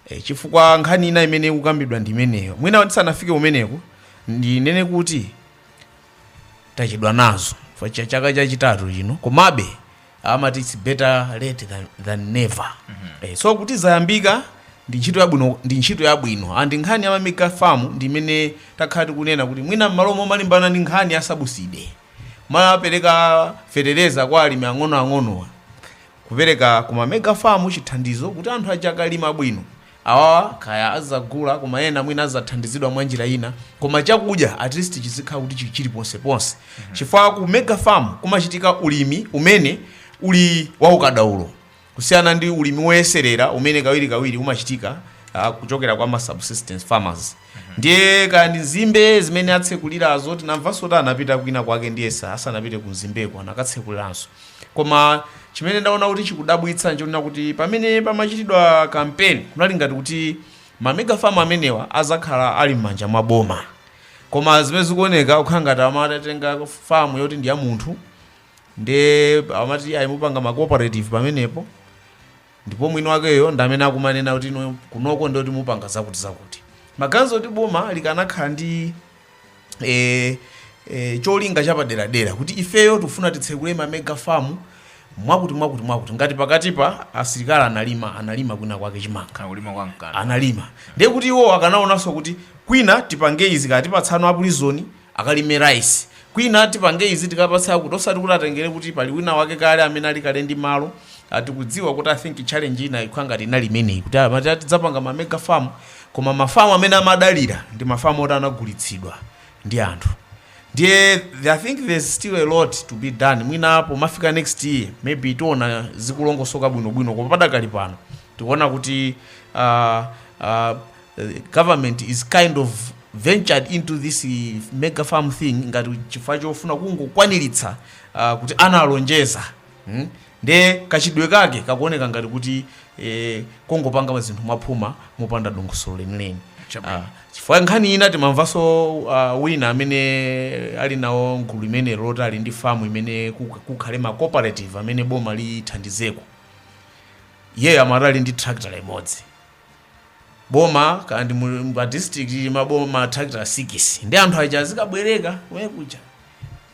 Eh, chifukwa nkhani ina imene ikukambidwa ndi imeneyo mwina tisanafike umeneko ndinene kuti tachedwa nazo Fa- cha- chaka chachitatu chino komabe amati its better late than, than never eh, so kuti zayambika ndi ntchito yabwino ndi ntchito yabwino and nkhani ya mamega farm ndi imene takhala tikunena kuti mwina mmalo momalimbana ndi nkhani ya sabuside kumapereka fetereza kwa alimi ang'onoang'onowa kupereka ku mamega farm chithandizo kuti anthu aja akalima bwino Awawa kaya azagula koma ena mwina azathandizidwa mwanjira ina koma chakudya at least chizikhala kuti chili chili ponse ponse chifukwa ku mega farm kumachitika ulimi umene uli waukadaulo kusiyana ndi ulimi woyeserera umene kawirikawiri umachitika ah, kuchokera kwa ma subsistence farmers ndiye kaya ndi nzimbe zimene atsekulirazo tinamvanso kuti anapita kwina kwake ndiyesa asanapite ku nzimbeko anakatsekuliranso koma chimene ndaona kuti chikudabwitsa nchonena kuti pamene pamachitidwa kampeni kunali ngati kuti mamegafamu amenewa azakhala ali m'manja mwa boma koma zimene zikuoneka zikukhala ngati amatenga famu yoti ndi ya munthu nde amati ayimupanga ma cooperative pamenepo Ndipo mwini wakeyo ndi amene akumanena kuti kunoko ndiye kuti mupanga zakuti zakuti. Maganizo oti boma likanakhala ndi e, e, cholinga chapaderadera kuti ifeyo tikufuna titsekule ma mega farm mwakuti mwakuti mwakuti ngati pakatipa asilikali analima analima kwina kwake chimanga akulima kwa Mkanda analima ndiye kuti iwo akanaonanso kuti kwina tipange izi kaya tipatsa a prison akalime rice kwina tipange izi tikapatse akuti osati kuti atengere kuti pali wina wake kale amene ali kale ndi malo tikudziwa kuti i think challenge ina ikhala ngati inali imeneyi kuti amati tidzapanga ma mega farm koma mafamu amene amadalira ndi mafamu oti anagulitsidwa ndi anthu ndiye i think there's still a lot to be done mwina pomafika next year maybe tiona zikulongosoka bwinobwino koma padakali pano tikuona kuti uh, uh, government is kind of ventured into this mega farm thing ngati chifukwa chofuna kungokwaniritsa uh, kuti analonjeza hmm? nde kachitidwe kake kakuoneka ngati kuti eh, kongopanga zinthu mwaphuma mopanda dongosolo lenileni Chabwino. Ah, chifukwa nkhani ina timamvanso uh, wina amene ali nawo mgulu limene loti ali ndi famu imene kuk- kukhale ma cooperative amene boma lithandizeko iyeyo amati ali ndi tractor imodzi boma kaya ndi mu- mu- pa district ili maboma matrakita sikisi ndi anthu aja azikabwereka kumene kuja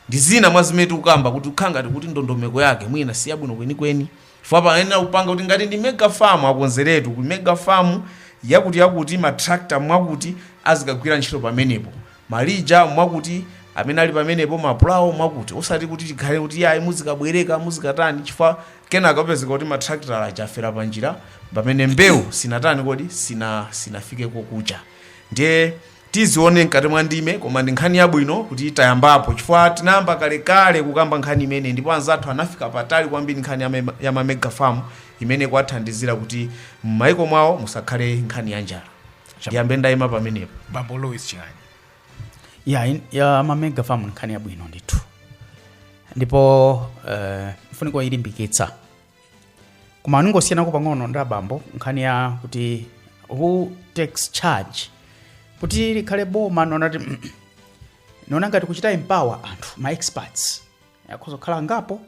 ndi zina mwa zimene tikukamba kuti ikukhala ngati kuti ndondomeko yake mwina si yabwino kwenikweni chifukwa payenera kupanga kuti ngati ndi mega farm akonzeretu ku mega farm yakuti yakuti matrakta mwakuti azikagwira ntchito pamenepo Malija mwakuti, amene ali pamenepo, mapulawo mwakuti. Osati kuti tikhale kuti iyayi muzikabwereka, muzikatani, chifukwa kenaka upezeka kuti matrakita aja afera panjira, pamene mbewu sinatani kodi, sina, sinafike kokucha. Ndiye tizione mkati mwa ndime, koma ndi nkhani yabwino kuti tayambapo, chifukwa tinayamba kalekale kukamba nkhani imeneyi ndipo anzathu anafika patali kwambiri nkhani ya, mema, ya ma mega farm imene kwathandizira kuti m'maiko mwawo musakhale nkhani ya njala. ndiyambe ndayima pamenepo bambo louis ching'anyi ya, in- ya mamega farm nkhani yabwino ndithu ndipo uh, mfuniko kuilimbikitsa koma ningosiyanako pang'ono ndi abambo nkhani ya kuti who takes charge kuti likhale boma nonati nona ngati kuchita empower anthu ma experts akhoza kukhala angapo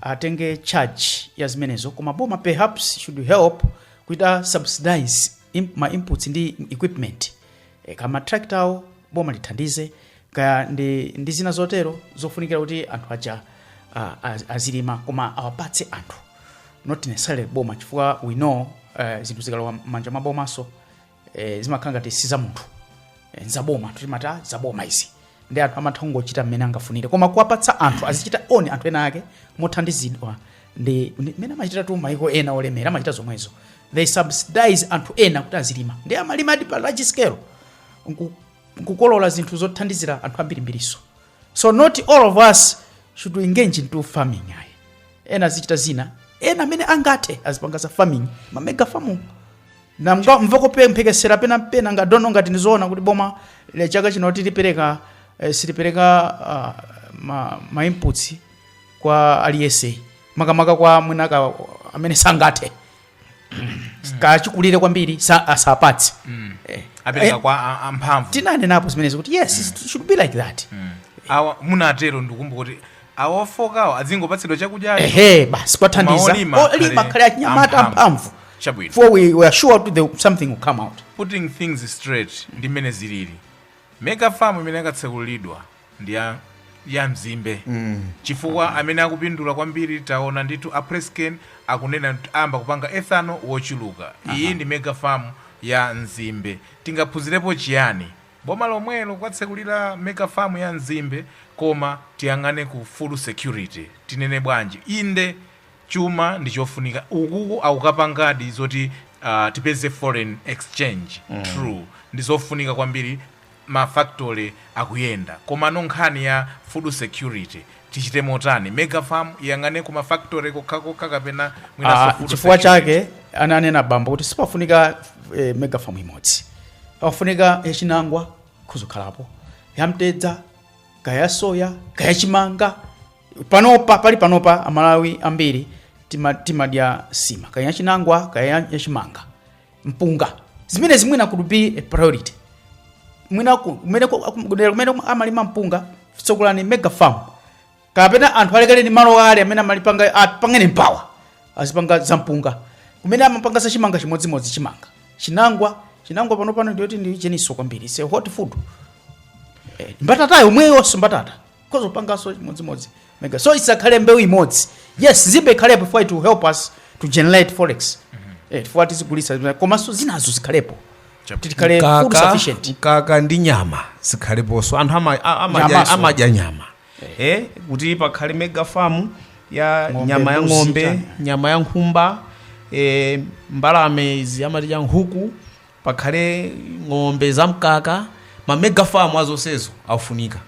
atenge charge ya zimenezo koma boma perhaps should help kuchita subsidize im, ma inputs ndi equipment e, kama tractor awo boma lithandize kaya ndi, ndi zina zotero zofunikira kuti anthu aja uh, az- azilima koma awapatse anthu not necessarily boma chifukwa we know uh, zinthu zikalowa m'manja mwa bomaso e, zimakhala ngati si za munthu e, nzaboma timati "Ah, zaboma izi ndi anthu amatha kungochita mmene angafunire koma kuwapatsa anthu azichita own anthu ena ake mothandizidwa ndi ndi- mmene amachitatu maiko ena olemera amachita zomwezo they subsidize anthu ena kuti azilima ndi amalimadi pa large scale nku- nkukolola zinthu zothandizira anthu ambirimbiriso so not all of us should engage into farming ayi ena azichita zina ena amene angathe azipanga za farming ma mega farm ndamvako mphekesera pena pena nga tsono ngati ndizoona kuti boma chaka chino silipereka eh, silipereka ah, ma, ma inputs kwa aliyese makamaka kwa mwinaka amene sangathe kachikulire kwambiri sa- asapatse Eh, apereka eh, kwa a- amphamvu tinanenapo zimenezo kuti yes it should be like that awa munatero ndikumbuka kuti awa ofokawo adzingopatsidwa chakudya ehe basi kuwathandiza Maolima olima akhale- khale achinyamata amphamvu. amphamvu Chabwino. for we are sure kuti the- something will come out putting things straight ndi mmene zilili mega farm imene yakatsekulidwa ndi ya ya mzimbe chifukwa amene akupindula kwambiri taona ndithu a PressCane akunena kuti ayamba kupanga ethanol wochuluka iyi ndi mega farm ya mzimbe tingaphunzirepo chiyani boma lomwelo kuwatsekulira mega farm ya mzimbe koma tiyang'ane ku food security tinene bwanji inde chuma ndi chofunika ukuku akukapangadi zoti uh, tipeze foreign exchange mm. true ndi zofunika kwambiri ma factory akuyenda komano nkhani ya food security tichite motani? Mega farm iyang'ane ku ma factory kokhakokha kapena mwinanso Ah, food chifukwa security? chake ananena bambo kuti sipafunika eh, mega farm imodzi pafunika yachinangwa kudzakhalapo yamtedza kaya ya soya kaya chimanga panopa pali panopa amalawi ambiri tima- timadya nsima kaya yachinangwa kaya ya- yachimanga mpunga zimenezi mwina could be a priority mwina ku- kumene ku- akum- kudera kumene kum- amalima mpunga tsekulani mega farm kapena anthu alekereni malo ali amene amalipanga apangeni empower azipanga za mpunga kumene amapanga za chimanga chimodzimodzi chimanga chinangwa chinangwa pano pano ndiyoti ndi chinanso kwambiri it's a hot food eh, mbatata yomweyonso mbatata khoza kupanganso chimodzimodzi mega so isakhale mbewu imodzi yes mzimbe ikhalepo for it to help us to generate forex eh kuti tizigulitsa komanso zinazo zikhalepo kuti tikhale food Mkaka- sufficient mkaka ndi nyama zikhaleponso anthu ama- a- amadya- Nyamanso. amadya nyama eh kuti pakhale mega farm ya Ng'ombe, nyama ya mbuzi, ng'ombe chani. nyama ya nkhumba eh, mbalame izi amadya nkhuku pakhale ng'ombe za mkaka ma mega farm a zonsezo akufunika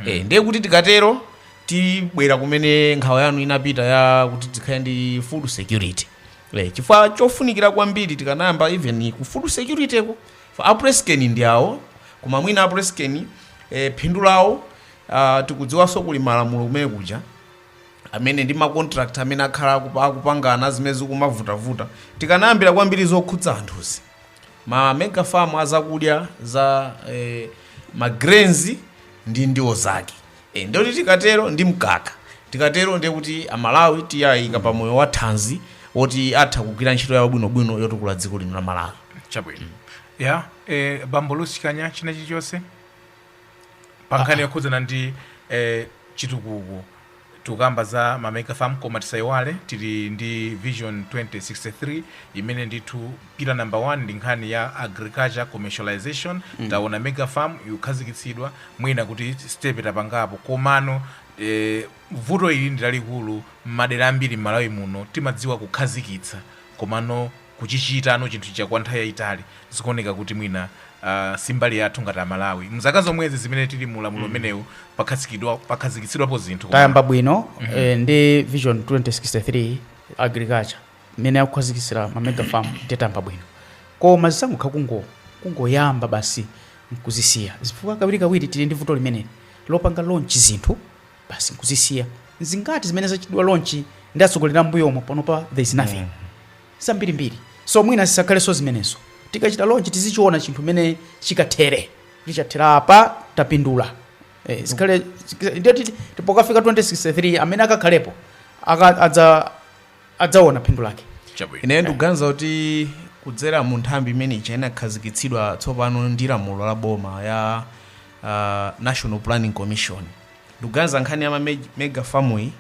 eh, ndiye kuti tikatero tibwera kumene nkhawa yanu inapita ya kuti tikhale ndi food security eh, chifukwa chofunikira kwambiri tikanayamba even ku food security ko for a PressCane ndi awo koma mwina a PressCane eh, phindu lawo ah, tikudziwanso kuli malamulo kumene kuja amene ndi ma contract amene akhala akupa- akupangana zimene zikumavutavuta tikanayambira kwambiri zokhudza anthuzi ma mega farm azakudya za eh, ma grains ndi ndiwo zake e, ndiye kuti tikatero ndi mkaka tikatero ndiye kuti amalawi tiyayika pa moyo wa thanzi woti atha kugwira ntchito yawo bwinobwino yotukula dziko lino la malawi chabwino ya eh, bambo lusikanya china chilichonse pa nkhani yokhudzana ndi eh, chitukuko tikukamba za mamega farm koma tisayiwale tili ndi vision 2063 imene ndithu pillar number 1 ndi nkhani ya agriculture commercialization mm. taona mega farm ikukhazikitsidwa mwina kuti step tapangapo komano eh, vuto ili ndi lalikulu m'madera ambiri m'malawi muno timadziwa kukhazikitsa komano kuchichita tsano chinthu chija kwa nthawi yayitali zikuoneka kuti mwina Uh, simbali yathu ngati amalawi mzaka zomwezi zimene tili mu ulamuliro umenewu mm. pakhazikidwa pakhazikitsidwapo zinthu tayamba bwino mm -hmm. eh, ndi vision 2063 agriculture mmene akukhazikitsira ma mega farm tayamba bwino koma zisangokhala kungo kungoyamba basi nkuzisiya chifukwa kawirikawiri tili ndi vuto limeneli lopanga launch zinthu basi nkuzisiya nzingati zimene zachitidwa launch ndi atsogoleri ambuyomo panopa there is nothing zambirimbiri so mwina zisakhalenso zimenezo tikachita launch tizichiona chinthu mene chikathere kuti chathera apa tapindula eh, zikhale ndiye titi- pokafika 2063 amene akakhalepo aka- adza adzaona phindu lake chabwino ineyo ndikuganiza kuti kudzera mu nthambi imene ija inakhazikitsidwa tsopano ndi lamulo la boma ya uh, national planning commission ndikuganiza nkhani ya ma meg- mega farm iyi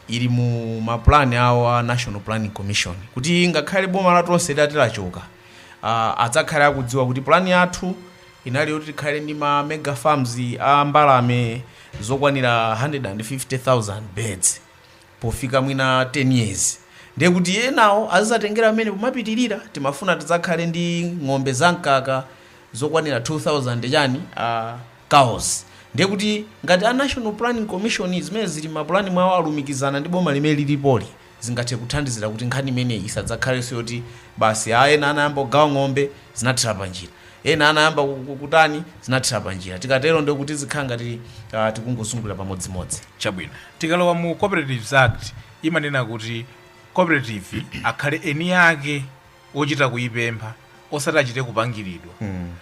ili mu mapulani awo a national planning commission kuti ngakhale boma la Tonse lati lachoka uh, adzakhale akudziwa kuti pulani yathu inali yoti tikhale ndi ma mega farms a mbalame zokwanira 150,000 birds pofika mwina 10 years ndiye kuti enawo azizatengera pamenepo kumapitirira timafuna tidzakhale ndi ng'ombe za mkaka zokwanira 2000 chani uh, cows ndiye kuti ngati a national planning commission zimene zili mapulani mwawo alumikizana ndi boma limene lilipoli zingathe kuthandizira kuti nkhani imeneyi isadzakhalenso yoti basi a ena anayamba kugawa ng'ombe zinathera panjira ena anayamba ku- ku- kutani zinathera panjira tikatero ndiye kuti zikhala ngati ah, tikungozungulira pamodzimodzi chabwino tikalowa mu cooperatives act imanena kuti cooperative akhale eni ake ochita kuyipempha osati achite kupangiridwa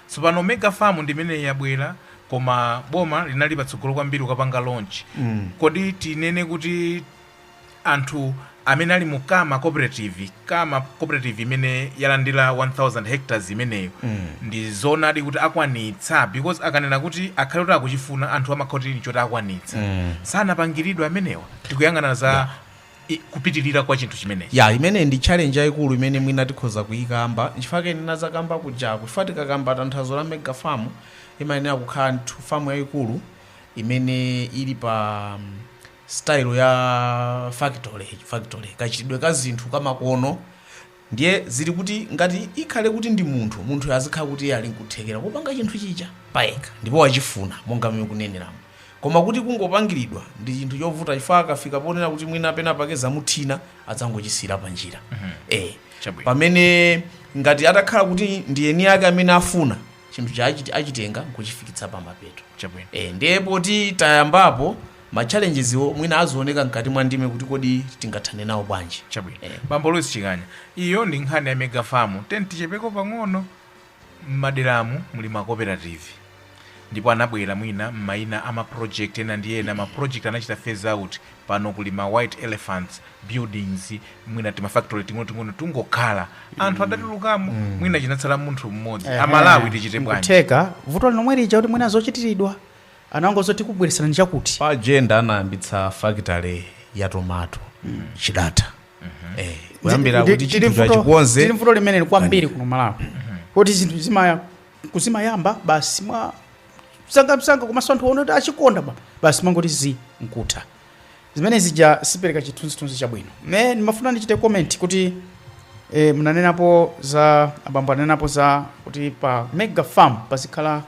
tsopano mega farm ndi imeneyi yabwera koma boma linali patsogolo kwambiri kukapanga launch kodi tinene kuti anthu amene ali mu kama cooperative kama cooperative imene yalandira 1000 hectares imeneyo mm. ndi zoonadi kuti akwanitsa because akanena kuti akhale kuti akuchifuna anthu amakhala atalinga zoti akwanitsa mm. sanapangiridwe amenewa tikuyang'ana za yeah i- kupitirira kwa chinthu chimenechi ya imene ndi challenge yayikulu imene mwina tikhoza kuyikamba chifukwa anena zakamba kuja chifukwa tikakamba tanthauzo la mega farm imayenera kukhala nthu famu yayikulu imene ili pa mm, style ya factory factory kachitidwe ka zinthu kamakono ndiye ndili kuti ngati ikhale kuti ndi munthu munthuyo azikhala kuti iye ali nkuthekera kupanga chinthu chija payekha ndipo wachifuna monga mmene mukuneneramo koma kuti kungopangiridwa ndi chinthu chovuta chifukwa akafika ponena kuti mwina pena pake zamuthina adzangochisiyira pa njira eh Chabwino. pamene ngati atakhala kuti ndi eni ake amene afuna chinthu chija achiti achitenga nkuchifikitsa pamapeto Chabwino. e, ndiye poti tayambapo ma challenges-wo mwina azioneka mkati mwa ndime kuti kodi tingathane nawo bwanji chabwino Eh. bambo louis chikanya iyo ndi nkhani ya mega farm tiyeni tichepeko pang'ono mmaderamu muli makoperativi ndipo anabwera mwina mmaina a maproject ena ndi ena maproject anachita phase out pano kuli ma white elephants buildings mwina tima factory ting'onoting'ono tangokhala anthu adatulukamo mwina chinatsala munthu mmodzi Ehe. amalawi tichite bwanji Nkutheka, vuto ndi lomwe lija lakuti mwina zochitiridwa anangoti tikubweretserani chakuti pa jenda anayambitsa factory ya tomato chidatha Eh, kuyambira Ndi- kuti tili chinthu vuto- chachikonze tili vuto limeneli kwambiri kuno malawi kuti zinthu zimaya zimayamba basi mwa msangamsanga komanso anthu aona kuti achikonda ba- basi mangoti zii nkutha zimene zija sizipereka chithunzithunzi chabwino nde ndimafuna ndichite comment kuti e, munanenapo za abambo ananenapo za kuti pa mega farm pazikhala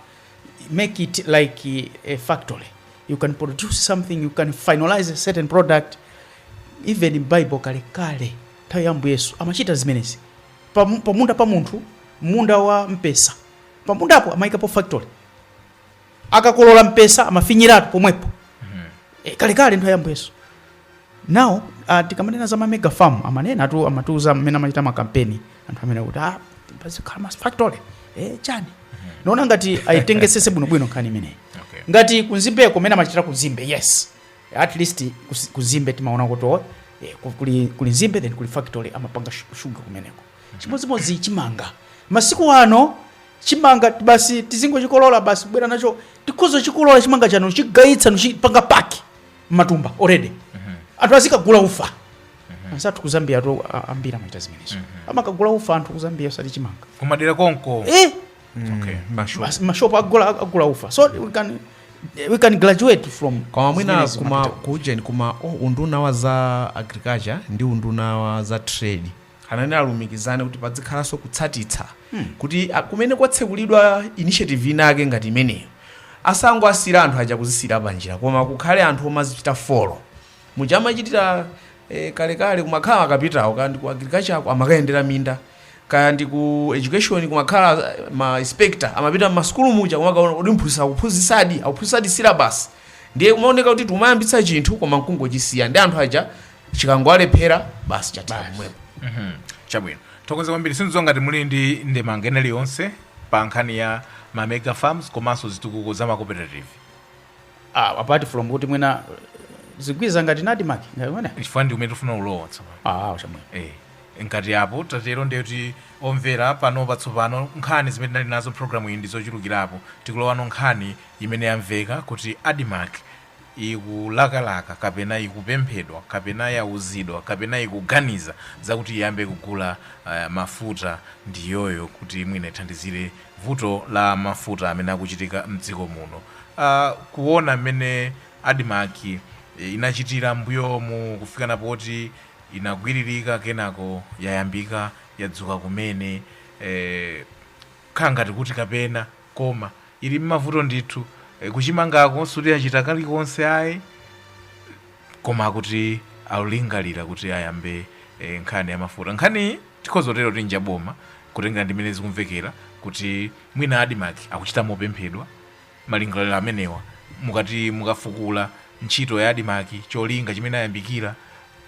make it like a factory you can produce something you can finalize a certain product even bible kalekale nthawi ya Ambuye Yesu amachita zimenezi pa, pa munda pa munthu munda wa mpesa pa mundapo amaikapo factory akakolola mpesa amafinyiratu pomwepo e, kale kale nthawi ya Ambuye Yesu now uh, tikamanena za mamega farm amanenatu amatiuza mmene amachita makampeni anthu amenewa kuti ah, pazikhala ma factory eh, chani ndaona ngati ayitengetsetse bwinobwino nkhani imeneyi Okay. ngati kunzimbeko mmene amachitira kunzimbe yes at least kus- kunzimbe timaona kuti oh, eh, ku- kuli, kuli nzimbe then kuli factory amapanga shu- shuga kumeneko chimodzimodzi chimanga masiku ano chimanga basi tizingochikolola basi kubwera nacho tikhoza kuchikolola chimanga chathu kuchigayitsa nkuchipanga pack m'matumba already anthu azikagula ufa anzathu kuzambia tu ambiri amachita zimenezo amakagula ufa anthu kuzambia osati chimanga kumadera konko eh Okay, mashopu. Mas- mashopu agula agula ufa so we can, we can graduate from koma mwina zimenezi kuma mapita. kuujeni kuma oh, unduna wa za agriculture ndi unduna wa za trade anayenera alumikizane kuti padzikhalanso kutsatetsa kuti a- kumene kwatsekulidwa initiative inake ngati imeneyo asangowasiya anthu aja kuzisiyira panjira koma kukhale anthu omazichita follow Muja ankachitira eh, kalekale kumakhala akapitawo kaya ndi ku agriculture ako amakayendera minda kaya ndi ku education kumakhala eh, ma inspector amapita m'masukulu muja kumakaona kuti mphunzitsi akuphunzitsadi akuphunzitsadi syllabus ndiye kumaoneka kuti tikumayambitsa chinthu koma nkungochisiya ndi anthu aja chikangowalephera basi chathera pomwepo Mhm. chabwino tathokoza kwambiri sindidziwa ngati muli ndi ndemanga ina iliyonse pa nkhani ya ma mega farms komanso zitukuko za ma cooperative Ah, apart from kuti mwina zigwiza ngati ADMARC ngati mwina chifukwa ndi kumene tifuna kulowa tsopano ah chabwino Eh, ngati apo tatere ndiye kuti omvera pano patsopano nkhani zimene tinali nazo mpulogalamu iyi ndi zochulukirapo tikulowano nkhani imene yamveka kuti admarc ikulakalaka kapena ikupemphedwa kapena yauzidwa kapena ikuganiza zakuti iyambe kugula uh, mafuta ndi iyoyo kuti mwina ithandizire vuto la mafuta amene akuchitika mdziko muno kuona mmene admarc inachitira mmbuyomu kufikana poti inagwiririka kenako yayambika yadzuka kumene kukhala ngati kuti kapena koma ili mmavuto ndithu kuchimangako sikuti yachita kalikonse ayi koma kuti akulingalira kuti ayambe nkhani ya mafuta nkhaniyi tikhoza kutero kuti nja boma kutengera ndi mmene zikumvekera kuti mwina admarc akuchita mopemphedwa malingaliro amenewa mukati mukafukula ntchito ya admarc cholinga chimene inayambikira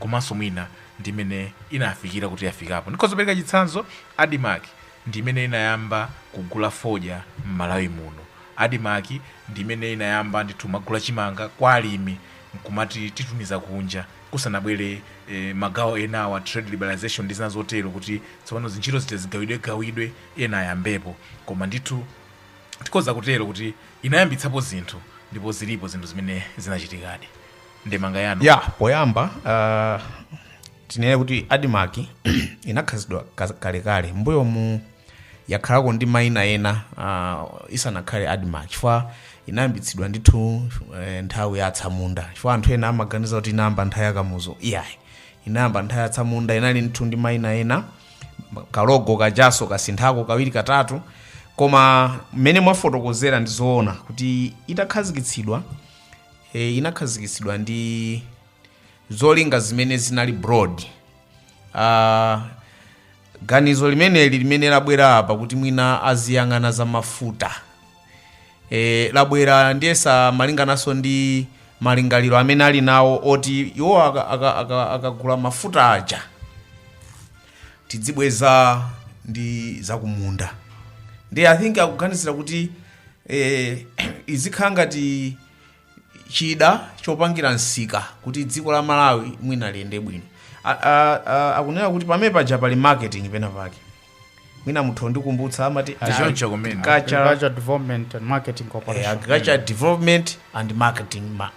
komanso mwina ndi mmene inafikira kuti yafikapo ndikhoza kupereka chitsanzo admarc ndi imene inayamba kugula fodya m'malawi muno admarc ndi imene inayamba ndithu kumagula chimanga kwa alimi nkumati titumize kunja kusanabwere magawo enawa a trade liberalization ndi zina zotero kuti tsopano zintchito zitazigawidwegawidwe ena ayambepo koma ndithu tikhoza kutero kuti inayambitsapo zinthu ndipo zilipo zinthu zimene zinachitikadi ndemanga yanu yapoyamba uh, tinene kuti admarc inakhazikitsidwa kalekale mbuyomu yakhalako ndi maina ena uh, isanakhale admarc chifukwa inayambitsidwa ndithu eh, nthawi ya atsamunda chifukwa anthu ena amaganiza kuti inayamba nthawi ya kamuzu iyayi inayamba nthawi ya atsamunda inali ndithu ndi maina ena kalogo kajanso kasinthako kawiri katatu koma mmene mwafotokozera ndi zoona kuti itakhazikitsidwa e, inakhazikitsidwa ndi zolinga zimene zinali broad uh, Ganizo limeneli limene labwera apa kuti mwina aziyang'ana za mafuta e, labwera ndiyesa malingananso ndi malingaliro amene ali nawo oti iwo akagula aka, aka, akagula mafuta aja tidzibweza ndi zakumunda ndiye i think akuganizira kuti eh, izikhala ngati chida chopangira msika kuti dziko la malawi mwina liyende bwino A- a- a- akunena kuti pamene paja pali marketing pena pake mwina muthu ndikumbutsa amati Choncho kumene. agriculture Agriculture Development and Marketing eh, Corporation. agriculture development and marketing ma-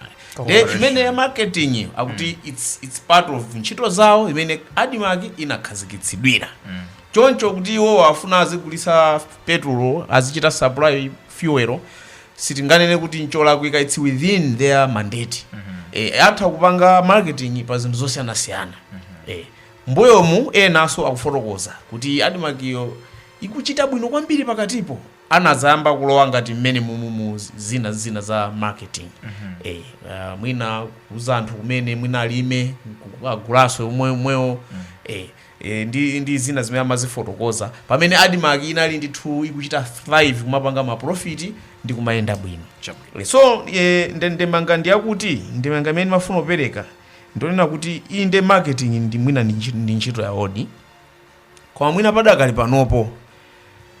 de imene ya marketing iyo akuti it's, it's part of ntchito zawo imene admarc inakhazikitsidwira choncho kuti iwo afuna azigulitsa petrol azichita supply fuel sitinganene kuti ncholakwika its within their mandate eh, atha kupanga marketing pa zinthu zosiyanasiyana eh, mbuyomu enanso akufotokoza kuti admarc iyo ikuchita bwino kwambiri pakatipo anadzayamba kulowa ngati mmene mumumu zina zina za marketing eh, uh, mwina kuuza anthu kumene mwina alime agulanso umwewo eh, e ndi ndi zina zimene amazifotokoza pamene admarc inali ndithu ikuchita thrive kumapanga maprofiti ndi kumayenda bwino Chabwino. Eh, so eh, nde- ndemanga ndiyakuti ndemanga imene ndimafuna kupereka ndi yonena kuti inde marketing ndi mwina ndi ntchi- ndi ntchito ya odi koma mwina padakali panopo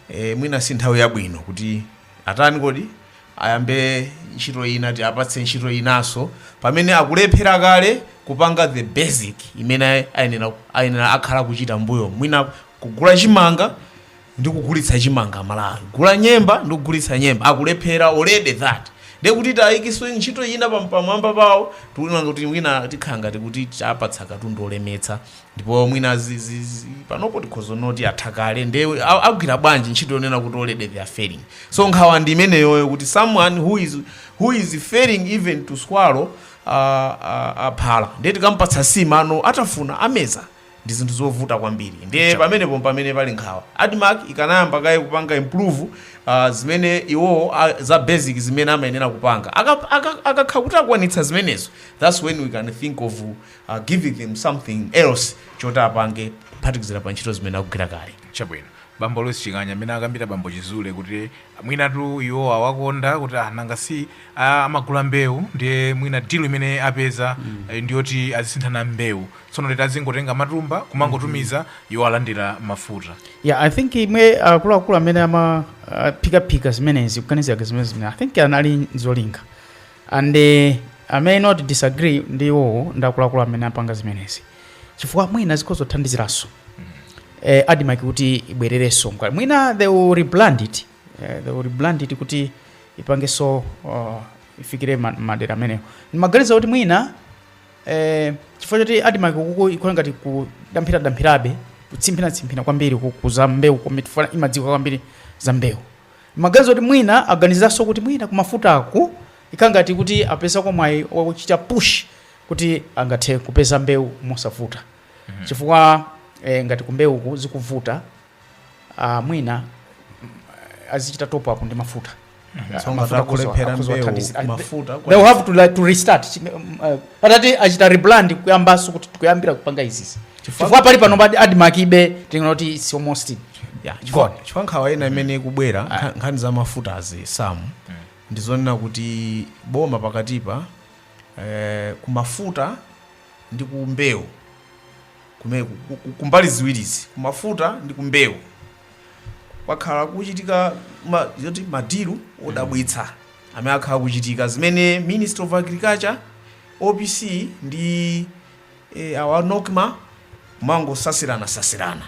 eh, mwina si nthawi yabwino kuti atani kodi ayambe ntchito ina tiapatse ntchito inaso pamene akulephera kale kupanga the basic imene ayenera ayenera akhala kuchita mbuyo mwina kugula chimanga ndi kugulitsa chimanga malawi gula nyemba ndi kugulitsa nyemba akulephera already that ndiye kuti tiwayikitse ntchito ina pam- pamwamba pawo tikuona kuti mwina tikhala ngati kuti tawapatsa katundu olemetsa ndipo mwina zi, zi, zi, panopo tikhoza kunena kuti atha kale nde a- agwira bwanji ntchito yonena kuti already they are failing so nkhawa ndi imeneyoyo kuti someone who is, who is failing even to swallow uh, uh, uh, phala ndiye tikampatsa nsima amvekere atafuna ameza ndi zinthu zovuta kwambiri ndiye pamenepo pamene pali nkhawa admarc ikanayamba kaye kupanga improve uh, zimene iwowo a- za basic zimene amayenera kupanga Aka- aka- akakhala kuti akwanitsa zimenezo thats when we can think of uh, giving them something else choti apange kuphatikizira pa ntchito zimene akugwira kale chabwino bambo louis chikanya mmene akambira bambo chizule kuti mwinatu iwo awakonda kuti ah, nanga si ah, amagula mbewu ndiye mwina deal imene apeza eh, ndiyoti azisinthana mbewu tsono late azingotenga matumba kumangotumiza iwo alandira mafuta yeah i think imwe akuluakulu amene amaphikaphika zimenezi kuganizira zimenezi mmene i think anali zolinga and i may not disagree ndi iwowo ndi akuluakulu amene apanga zimenezi chifukwa mwina zikhoza kuthandiziranso eh, admarc kuti ibwererenso mkati mwina they will rebrand it eh, they will rebrand it kuti ipangenso uh, ifikire ma- madera amenewo ndimaganiza kuti mwina eh, chifukwa choti admarc uku ikukhala ngati kudamphiradampirabe kutsimphinatsimphina kwambiri kukuza mbewu komwe chifukwa imadziwa kwambiri za mbewu Ndimaganiza kuti mwina aganiziranso kuti mwina kumafutaku ikukhala ngati kuti apezako mwayi wochita push kuti angathe kupeza mbewu mosavuta chifukwa eh, ngati kumbewuku zikuvuta ah, mwina mm, azichita top up ndi mafuta Ah, So mafuta akuzo- takulephera akuzo mbewu, athandizira. mafuta They- kwa- they will have to, like, to restart Chime- mm, eh, patati achita rebrand kuyambanso kuti tikuyambira kupanga izizi Chifukwa- chifukwa pali pano padi admarc ibe tinoti it's almost Yeah, chifukwa Go on. chifukwa nkhawa ina imene ikubwera nkha- nkhani za mafutazi sam ndizonena kuti boma pakatipa eh, kumafuta ndi kumbewu kumene ku- ku- ku- kumbali ziwirizi kumafuta ndi kumbewu kwakhala kuchitika ma, zoti madilu odabwitsa amene akhala kuchitika zimene ministry of agriculture opc ndi eh, awa nocma kumangosasirana sasirana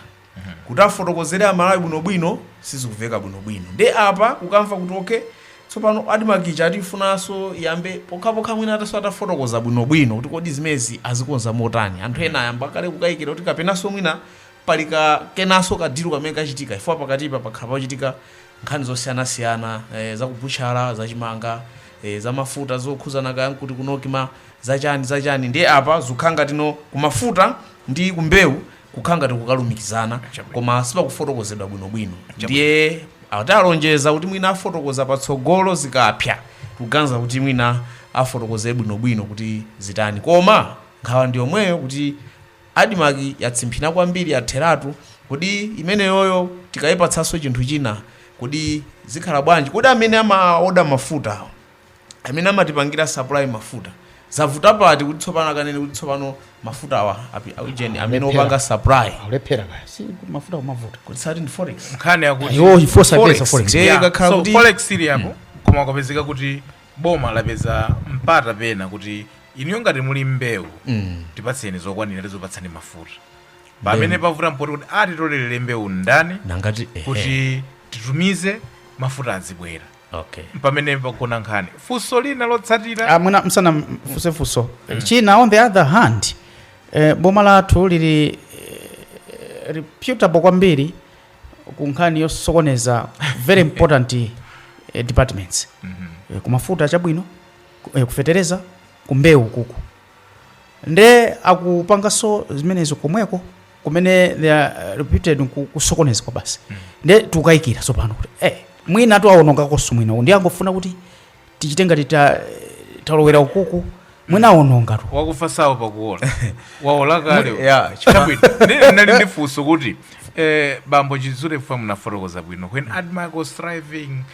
kuti afotokozere amalawi bwino bwino sizikuveka bwino bwino ndiye apa kukamva kuti ok tsopano admarc ija akuti ifunaso iyambe pokhapokha mwina ataso atafotokoza bwino bwino kuti kodi zimezi azikonza motani anthu ena ayamba kale kukayikira kuti kapenaso mwina pali ka kenaso kadilu kamene kachitika chifukwa pakatipa pakhala pachitika nkhani zosiyanasiyana eh, zakubutchala zachimanga eh, zamafuta zokhuzana kaya nkuti ku nocma zachani zachani ndiye apa zikukhala ngati no kumafuta ndi kumbewu kukhala ngati kukalumikizana Chabwino. koma sipakufotokozedwa bwinobwino Chabwino. ndiye atalonjeza kuti mwina afotokoza patsogolo zikapsa tikuganiza kuti mwina afotokoze bwinobwino kuti zitani koma nkhawa ndi yomweyo kuti admarc yatsimphina kwambiri yatheratu kodi imeneyoyo tikayipatsanso chinthu china kodi zikhala bwanji kodi amene amaoda mafuta awo amene amatipangira supply mafuta zavuta pati kuti tsopano akanene kuti tsopano mafuta awa api- a ujeni amene Lephera. opanga supply alephera kaya si mafuta kumavuta kuti sati ndi forex nkhani yakuti iwo ifosa Forex, pesa forex ndiye Yeah, ikakhala so kuti- forex ili apo koma kwapezeka kuti boma lapeza mpata pena kuti iniyo ngati muli mbewu tipatseni zokwanira tizopatsani mafuta pamene pavuta mpoti kuti atitolerere mbewu ndani nangati ehe. kuti titumize mafuta azibwera okay mpamene pagona nkhani funso lina lotsatira Ah, mwina musanafunse funso china on the other hand eh, boma lathu lili eh, reputable kwambiri ku nkhani yosokoneza very important eh, departments eh, kumafuta chabwino ku- eh, kufetereza kumbewu kuku nde akupanganso zimenezo komweko kumene they are reputed ku- kusokonezako basi nde tikukayikira tsopano kuti eh, mwinatu awonongakonso mwina uku. nde angofuna kuti tichite ngati ta- talowera ukuku mwina awonongatu wakufa sawopa kuola waola kale Muli- yeah, chifukwa- Chabwino. Ndi- nali ndi funso kuti Eh, bambo chizule funa munafotokoza bwino when Admarc was thriving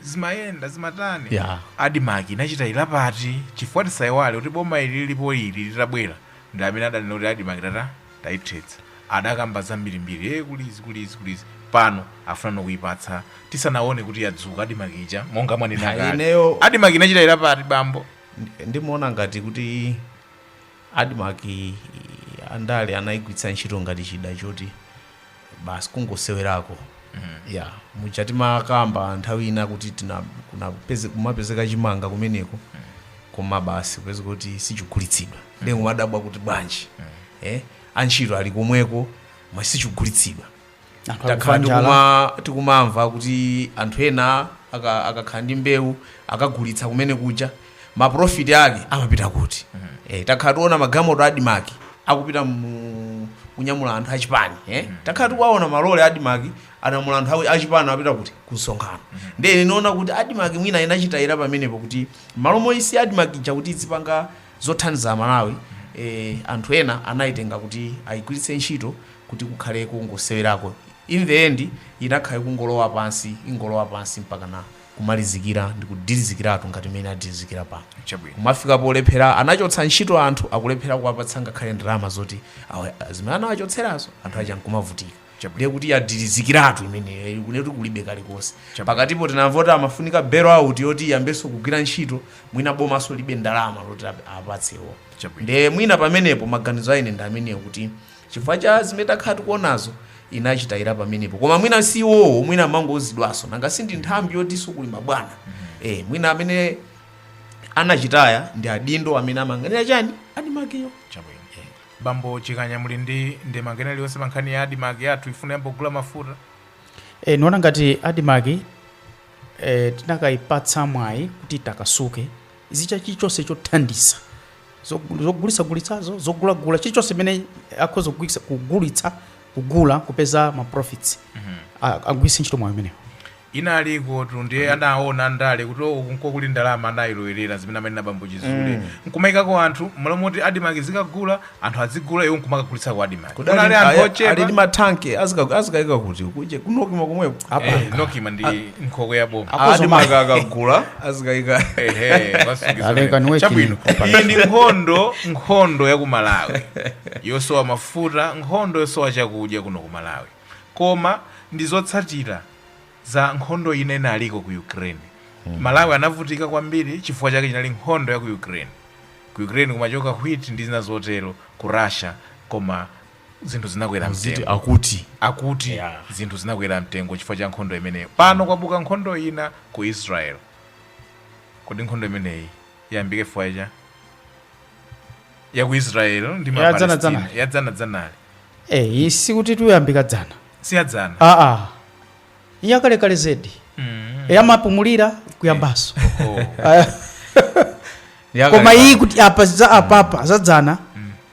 zimayenda zimatani Yeah. Admarc inachitayira pati chifukwa tisaiwale kuti boma ili lilipo ili litabwera ndi amene adanena kuti Admarc tata tayithetsa adakamba zambirimbiri e kuli zii kuli zii kuli zii pano afunano kuipatsa tisanaone kuti yadzuka Admarc ija monga mwanena Ha, kale. ineyo- Admarc inachitayira pati bambo Ndi- ndimaona ngati kuti Admarc andale anaigwiritsa ntchito ngati chida choti basi kungosewerako ya muja timakamba nthawi ina kuti tina- kuna- peze- kumapezeka chimanga kumeneko koma basi kupeza kuti sichigulitsidwa ndiye kumadabwa kuti bwanji eh, antchito ali komweko koma sichigulitsidwa Anthu takhala akufa njala. tikuma- tikumamva kuti anthu ena aka- akakhala ndi mbewu akagulitsa kumene kuja maprofiti ake amapita kuti eh, takhala tiona magalimoto a Admarc akupita mu kunyamula anthu achipani eh? takhala tikuwaona malole a Admarc anyamula anthu awi- achipani apita kuti kumsonkhano ndiye ndinaona kuti Admarc mwina inachitayira pamenepo kuti malo moyisiya Admarc ija kuti izipanga Zothandiza Amalawi e Anthu ena anaitenga kuti aigwiritse ntchito kuti kukhale kongosewerako in the end inakhala ikungolowa pansi ingolowa pansi mpakana kumalizikira ndikudilizikiratu ngati mmene adilizikira pano. Chabwino. Kumafika polephera anachotsa ntchito anthu akulephera kuwapatsa ngakhale ndalama zoti awa zimene anawachotserazo anthu aja nkumavutika. ndiye kuti yadirizikiratu imeneyo ikuti kuti kulibe kalikonse pakatipo tinamva kuti imafunika bail out yoti iyambenso kugwira ntchito mwina bomanso libe ndalama loti ap- apatsewo Chabwino. nde mwina pamenepo maganizo a ine ndi amenewo kuti chifukwa cha zimene takhala tikuonazo inachitayira pamenepo koma mwina si iwowo mwina amangouzidwanso nanga si ndi nthambi yotinso kuli mabwana eh mwina amene anachitaya ndi adindo amene amayang'anira chani Admarc-yo chabwino Bambo Chikanya muli ndi ndemanga ina iliyonse pa nkhani ya Admarc yathu ifuna iyambe kugula mafuta? E, niona ngati Admarc e, tinakayipatsa mwayi kuti itakasuke izichita chilichonse chothandiza Zog- zogulitsagulitsazo zogulagula chilichonse chimene akhoza kugulitsa- kugulitsa kugula kupeza ma profits A- agwiritse ntchito mwayi umenewo Inalikotu ndiye anaona andale kuti oh uku nko kuli ndalama anailowerera zimene amanena bambo Chizule nkumaikako anthu mmalo moti Admarc izikagula anthu azigula iwo nkumakagulitsa ku Admarc. Kudali- Kunali anthu aya- ochepa. ali ndi matanki azika- azikaika kuti kuje kunokima komweko Eh, Nokima ndi nkhokwe ya boma. Admarc akagula azikaika Ehe, wasungizana. Aleka ni working Chabwino. properly. Iyi ndi nkhondo nkhondo ya ku Malawi yosowa mafuta nkhondo yosowa chakudya kuno ku Malawi koma ndi zotsatira za nkhondo ina inaliko ku Ukraine. Malawi anavutika kwambiri chifukwa chake chinali nkhondo ya ku Ukraine. Ku Ukraine kumachoka wheat ndi zina zotero ku Russia koma zinthu zinakwera mtengo. akuti Akuti Yeah. zinthu zinakwera mtengo chifukwa cha nkhondo imeneyo. Pano kwabuka nkhondo ina ku Israel. Kodi nkhondo imeneyi iyambike chifukwa cha ya ku israel ndi Ya dzana mapalestina dzana. ya dzana dzanali eyi sikuti tuyambika dzana si ya dzana aa yakalekale zedi Mm. yamapumulira kuyambanso Oh. Ah, Ya koma kale- iyi kuti apa za apapa za dzana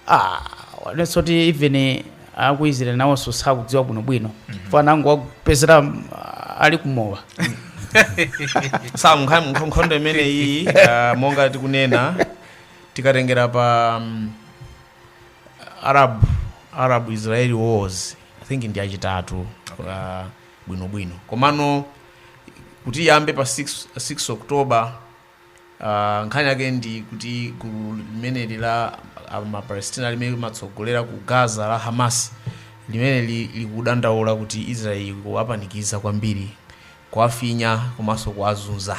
ah, wanenanso kuti even aku Israel nawonso sakudziwa bwinobwino penanso anangowapezerera mm, ali kumowa sankha nkhondo imeneyi ah, monga tikunena tikatengera pa um, arab arab israeli wars i think ndi yachitatu uh, bwinobwino komano kuti iyambe pa 6, 6 october uh, nkhani yake ndi kuti gulu limeneli la ah, mapalestina limene limatsogolera ku gaza la hamas limene li- likudandaula kuti israeli ikuwapanikiza kwambiri kuwafinya komanso kuwazunza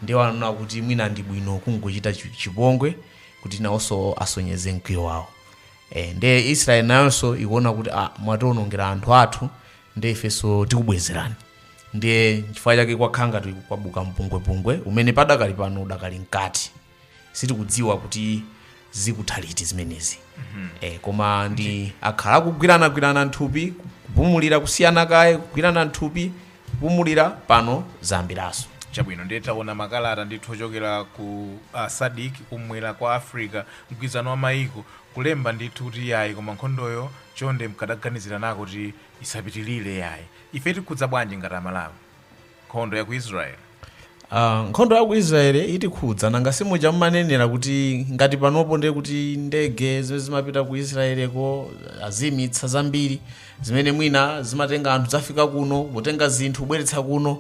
ndiye wanaona kuti mwina ndi bwino kungochita chi- chipongwe kuti nawonso asonyeze mkwiyo wawo e, ndiye israeli nayonso ikuona kuti ah, mwatiwonongera anthu athu ndiye ifenso tikubwezerani ndiye chifukwa chake kwakhala ngati kwabuka mpungwepungwe umene padakali pano udakali mkati sitikudziwa kuti zikutha liti zimenezi eh, koma ndi akhala akugwiranagwirana nthupi kupumulira kusiyana kaye kugwirana nthupi kupumulira pano zayambiranso chabwino ndiye taona makalata ndithu ochokera ku uh, sadik kumwera kwa africa mgwirizano wa mayiko kulemba ndithu kuti yayi koma nkhondoyo chonde mkadaganizira nako kuti isapitilire yayi ife itikhudza bwanji ngati amalawi nkhondo ya ku israeli Ah, nkhondo ya ku israeli itikhudza nanga simuja mumanenera kuti ngati panopo ndiye kuti ndege zimene zimapita ku israeleko azimitsa zambiri zimene mwina zimatenga anthu zafika kuno potenga zinthu kubweretsa kuno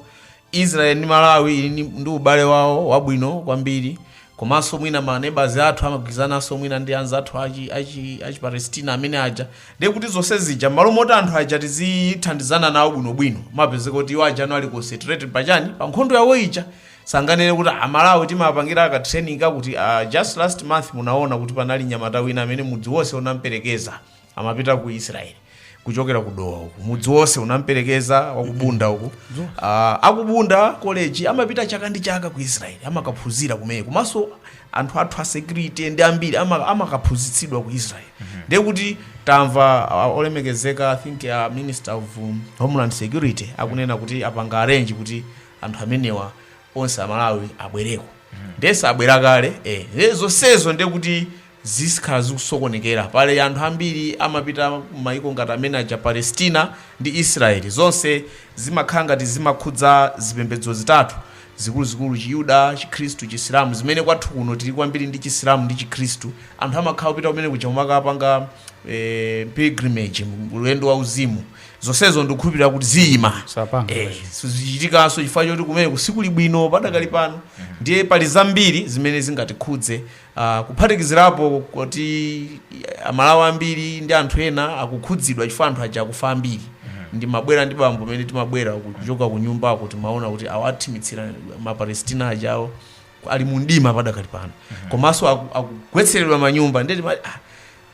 israel ndi malawi ili ni- ndi ubale wawo wabwino kwambiri komanso mwina manebazi athu amagwirizananso mwina ndi anzathu achi, achi, achi palestina amene aja Ndiye kuti zonse zija m'malo moti anthu aja tizithandizana nawo bwinobwino, amapezeka kuti iwo ajanso ali concentrated pa chani? Pa nkhondo yawo ija. Sanganene kuti a Malawi timawapangira ka training kakuti, ah just last month munaona kuti panali mnyamata wina amene mudzi wonse unamperekeza, amapita ku Israel kuchokera ku Dowa uku. Mudzi wonse unamperekeza wa ku Bunda uku. Ah, a ku Bunda college amapita chaka ndi chaka ku Israel, amakaphunzira kumeneko. Komanso anthu athu a security ndi ambiri ama- amakaphunzitsidwa ku israel ndiye kuti tamva ah, olemekezeka i think a minister of um, homeland security akunena kuti apanga arrange kuti anthu amenewa onse amalawi abwereko ndiye sabwera kale eh. ndiye zonsezo ndiye kuti zizikhala zikusokonekera pali anthu ambiri amapita mayiko ngati amene aja palestina ndi israeli zonse zimakhala ngati zimakhudza zipembedzo zitatu zikuluzikulu, Chiyuda, Chikhristu, Chisilamu, zimene kwathu kuno tili kwambiri ndi Chisilamu ndi Chikhristu, anthu amakhala opita kumene kuja kumakapanga eh, pilgrimage, ulendo wa uzimu, zonsezo ndikukhulupirira kuti ziyima, sizichitikanso chifukwa choti kumeneko sikuli bwino padakali pano ndiye pali zambiri zimene zingatikhudze kuphatikizirapo kuti amalawi ambiri ndi anthu ena akukhudzidwa chifukwa anthu aja akufa ambiri ndimabwera ndi bambo amene timabwera kuchoka ku nyumbako timaona kuti awathimitsira mapalestina ajawo ali mu mdima padakali pano komanso aku- akugwetseredwa manyumba ndeti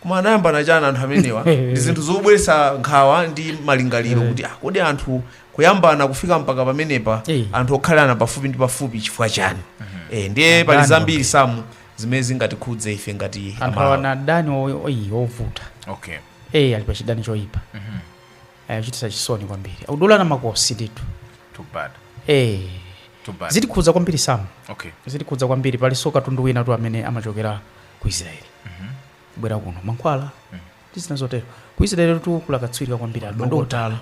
koma anayambana chani anthu amenewa ndi zinthu zobweretsa nkhawa ndi malingaliro kuti ah, kodi anthu kuyambana kufika mpaka pamenepa Eh. anthu okhalana pafupi ndi pafupi chifukwa chani Eh, ndiye pali zambiri samu zimene zingatikhudze ife ngati anthu Amalawi. awana adani o- oyi ovuta okay eyi ali pa chidani choyipa chochititsa chisoni kwambiri akudulana makosi ndithu too bad Eh, too bad zitikhudza kwambiri samu okay zitikhudza kwambiri palinso katundu winatu amene amachokera ku israeli kubwera kuno mankhwala ndi zina zotero ku israeli tu kuli akatswiri kwambiri a madokotala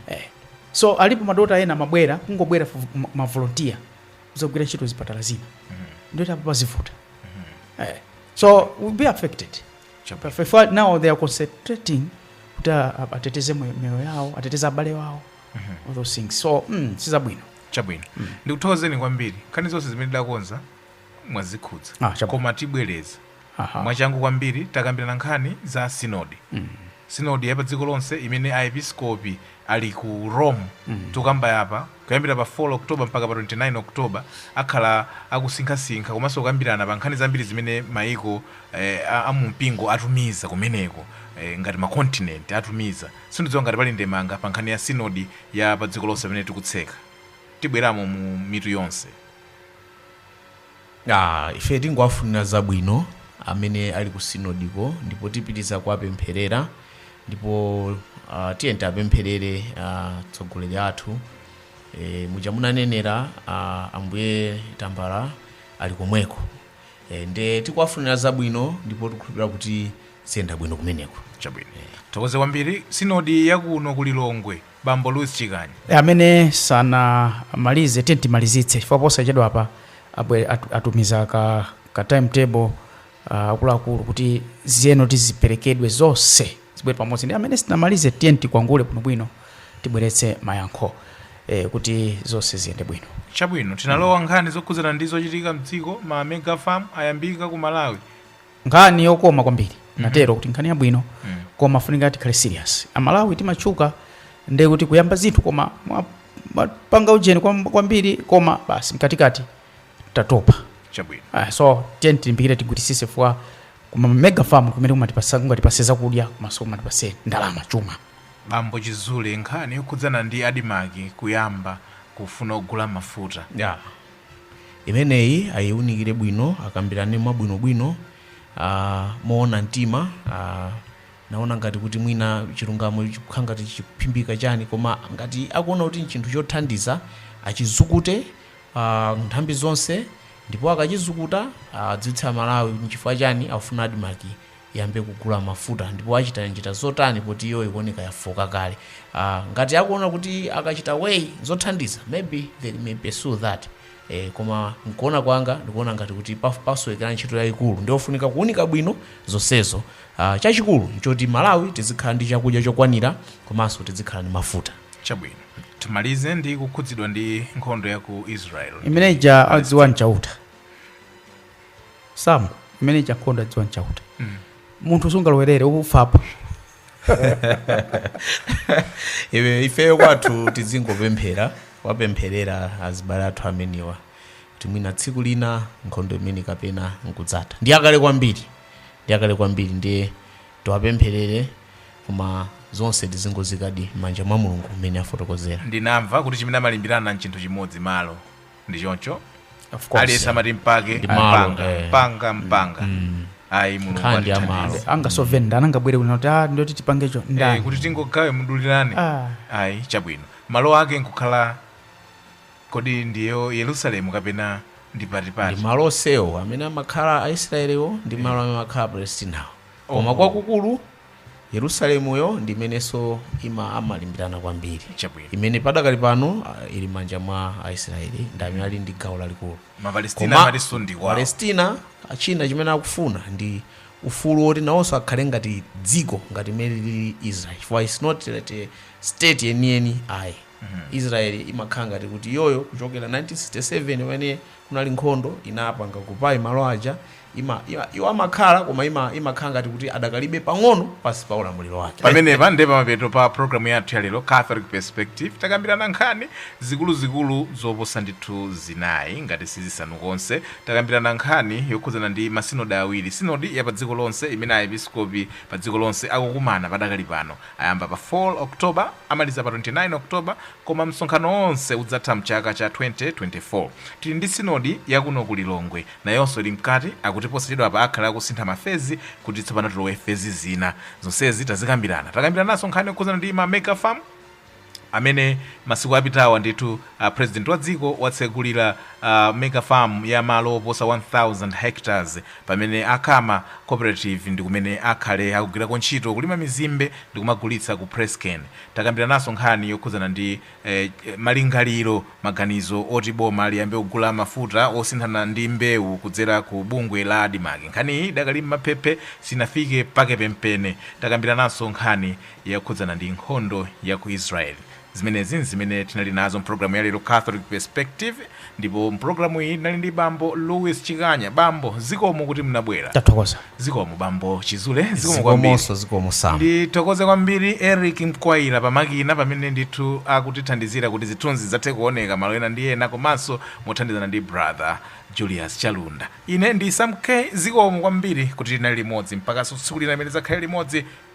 Eh. so alipo madokotala ena amabwera kungobwera fu- ma- mavolontiya kuzagwira ntchito zipatala zina ndiye pano zivuta Eh. so we'll be affected Chapa. If- if now they are concentrating kuti a- a- ateteze mwe- mioyo yawo ateteze abale wawo all those things so mm, sizabwino chabwino ndikuthokozeni kwambiri nkhani zonse zimene tidakonza mwazikhudza Ah, chabwino. koma tibwereza Aha. mwachangu kwambiri takambirana nkhani za sinodi sinodi ya pa dziko lonse imene aepiskopi ali ku rome tikukamba apa kuyambira pa 4 oktoba mpaka pa 29 oktoba akhala akusinkhasinkha komanso kukambirana pa nkhani zambiri zimene maiko eh, a- a mumpingo atumiza kumeneko eh, ngati makontinenti atumiza sindidziwa ngati pali ndemanga pa nkhani ya sinodi ya pa dziko lonse pamene tikutseka tibweramo mu mitu yonse Aaa ife tingowafunira zabwino amene ali ku synod ko ndipo tipitiza kuwapempherera ndipo uh, tiyeni tiwapempherere atsogoleri uh, athu e, muja munanenera uh, ambuye tambala ali komweko e, nde tikuwafunira zabwino ndipo tikhulupirira kuti ziyenda bwino kumeneko chabwino tokoze kwambiri sinodi yakuno ku lilongwe Bambo Louis Chikani. amene sanamalize tiyeni timalizitse chifukwa posachedwapa abwe- atu- atumiza ka, ka timetable uh, akuluakulu kuti ziyeno tiziperekedwe zonse zibwere pamodzi ndi amene sitinamalize tiyeni tikwangule bwinobwino tibweretse mayankho eh, kuti zonse ziyende bwino Chabwino tilowe nkhani zokhudzana ndi zochitika mdziko ma mega farm ayambika ku Malawi. nkhani yokoma kwambiri mhm. natero kuti nkhani yabwino mm. koma pafunika tikhale serious amalawi timatchuka nde kuti kuyamba zinthu koma kupanga ujeni kwambiri koma basi mkatikati tatopa chabwino ah, so tiyeni tilimbikire tigwiritsitse chifukwa ma mega farm amene angatipatsa angatipatse zakudya komanso angatipatse ndalama chuma bambo chizule nkhani yokhudzana ndi admarc kuyamba kufuna kugula mafuta yeah. imeneyi ayiunikire bwino akambirane mwabwinobwino ah, moona mtima ah, naona ngati kuti mwina chilungamo chikukhala ngati chikuphimbika chani koma ngati akuona kuti nchinthu chothandiza achizukute ah, nthambi zonse ndipo akachizukuta adziwitse amalawi kuti nchifukwa chani akufuna admarc iyambe kugula mafuta ndipo achita njira zotani poti iyo ikuoneka yafooka kale uh, ngati akuona kuti akachita way zothandiza maybe they may pursue that eh, koma nkuona kwanga ndikuona ngati kuti paf- pasowekera ntchito yayikulu ndiofunika kuunika bwino zonsezo uh, chachikulu nchoti malawi tizikhala ndi chakudya chokwanira komanso tizikhala ndi mafuta chabwino timalize ndi kukhudzidwa ndi nkhondo ya ku israel imene ija adziwa nchauta sam imene ija nkhondo adziwa nchauta munthu sungalowerere ufapo ifeyo kwathu tizingopemphera wapempherera azibale athu amenewa kuti mwina tsiku lina nkhondo imeneyi kapena nkudzatha ndi yakale kwambiri ndi yakale kwambiri ndiye tiwapempherere koma zonse tizingoziikadi m'manja mwa mulungu mmene afotokozera ndinamva kuti chimene amalimbirana nchinthu chimodzi malo ndi choncho Of course. aliyense amati mbake Ndi malo, mbanga eh. mbanga mbanga ayi mulungu Nkhani ya atithandize. malo. angasove ndani angabwere kuno kuti "Ah, ndoti tipangecho Eh, ndani kuti tingogawe mudulirane Ah. ayi chabwino malo ake nkukhala kodi ndiyo yerusalemu kapena ndi ndi patipati malo onsewo amene amakhala aisraeliwo ndi malo amene amakhala apalestinawo koma kwakukulu Yerusalemuyo ndi imenenso ima amalimbirana kwambiri Chabwino. imene padakali pano ah, ili manja mwa aisraeli ndi amene ali ndi gawo lalikulu Koma Mapalestina amatinso ndi kwawo. palestina ah, china chimene akufuna ndi ufulu woti nawonso akhale ngati dziko ngati imene lili israel chifukwa it's not a state yeniyeni ayi israel imakhala ngati kuti iyoyo kuchokera 1967 pamene kunali nkhondo inapanga occupy malo aja ima, ima, iwo amakhala koma ima, imakhala ngati kuti adakalibe pang'ono pansi pa ulamuliro wake pamenepa nde pamapeto pa programu yathu ya lero catholic perspective takambirana nkhani zikuluzikulu zoposa ndithu zinayi ngati sizisanu konse takambirana nkhani yokhudzana ndi masinodi awiri sinodi ya pa dziko lonse imene aepiskopi pa dziko lonse akukumana padakali pano Ayamba pa 4 October, amaliza pa 29 October, koma msonkhano wonse udzatha m'chaka cha 2024. Tili ndi Sinodi ya kuno ku Lilongwe, nayonso ili mkati, akuti posachedwapa akhala akusintha ma fezi kuti tsopano tilowe fezi zina. Zonsezi tazikambirana. Takambirananso nkhani yokhudzana ndi ma Mega Farm. amene masiku apitawa ndithu president wa dziko watsegulira a mega farm ya malo oposa 1000 hectares pamene a Kama cooperative ndikumene akhale akugwirako ntchito kulima mizimbe ndikumagulitsa ku Presscane. Takambiranaso nkhani yokhudzana ndi eh, malingaliro, maganizo oti boma liyambe kugula mafuta osinthana ndi mbewu kudzera ku bungwe la Admarc. Nkhaniyi idakali m'maphephe sinafike pake penipeni. Takambiranaso nkhani yokhudzana ndi nkhondo ya ku Israel. Zimenezi n'zimene tinali nazo m'pulogalamu ya lero Catholic Perspective, ndipo m'pulogalamu iyi tinali ndi Bambo Louis Chikanya. Bambo, zikomo kuti mnabwera. Tathokoza. Zikomo Bambo Chizule, zikomo kwambiri. Zikomonso zikomo Sam. Ndithokoze kwambiri Eric Mkwaira pamakina pamene ndithu akutithandizira kuti zithunzi zidzathe kuoneka malo ena ndi ena komanso mothandizana ndi brother Julius Chalunda. Ine ndi Sam K. Zikomo kwambiri kuti tinali limodzi mpaka tsiku lina limene tidzakhale limodzi.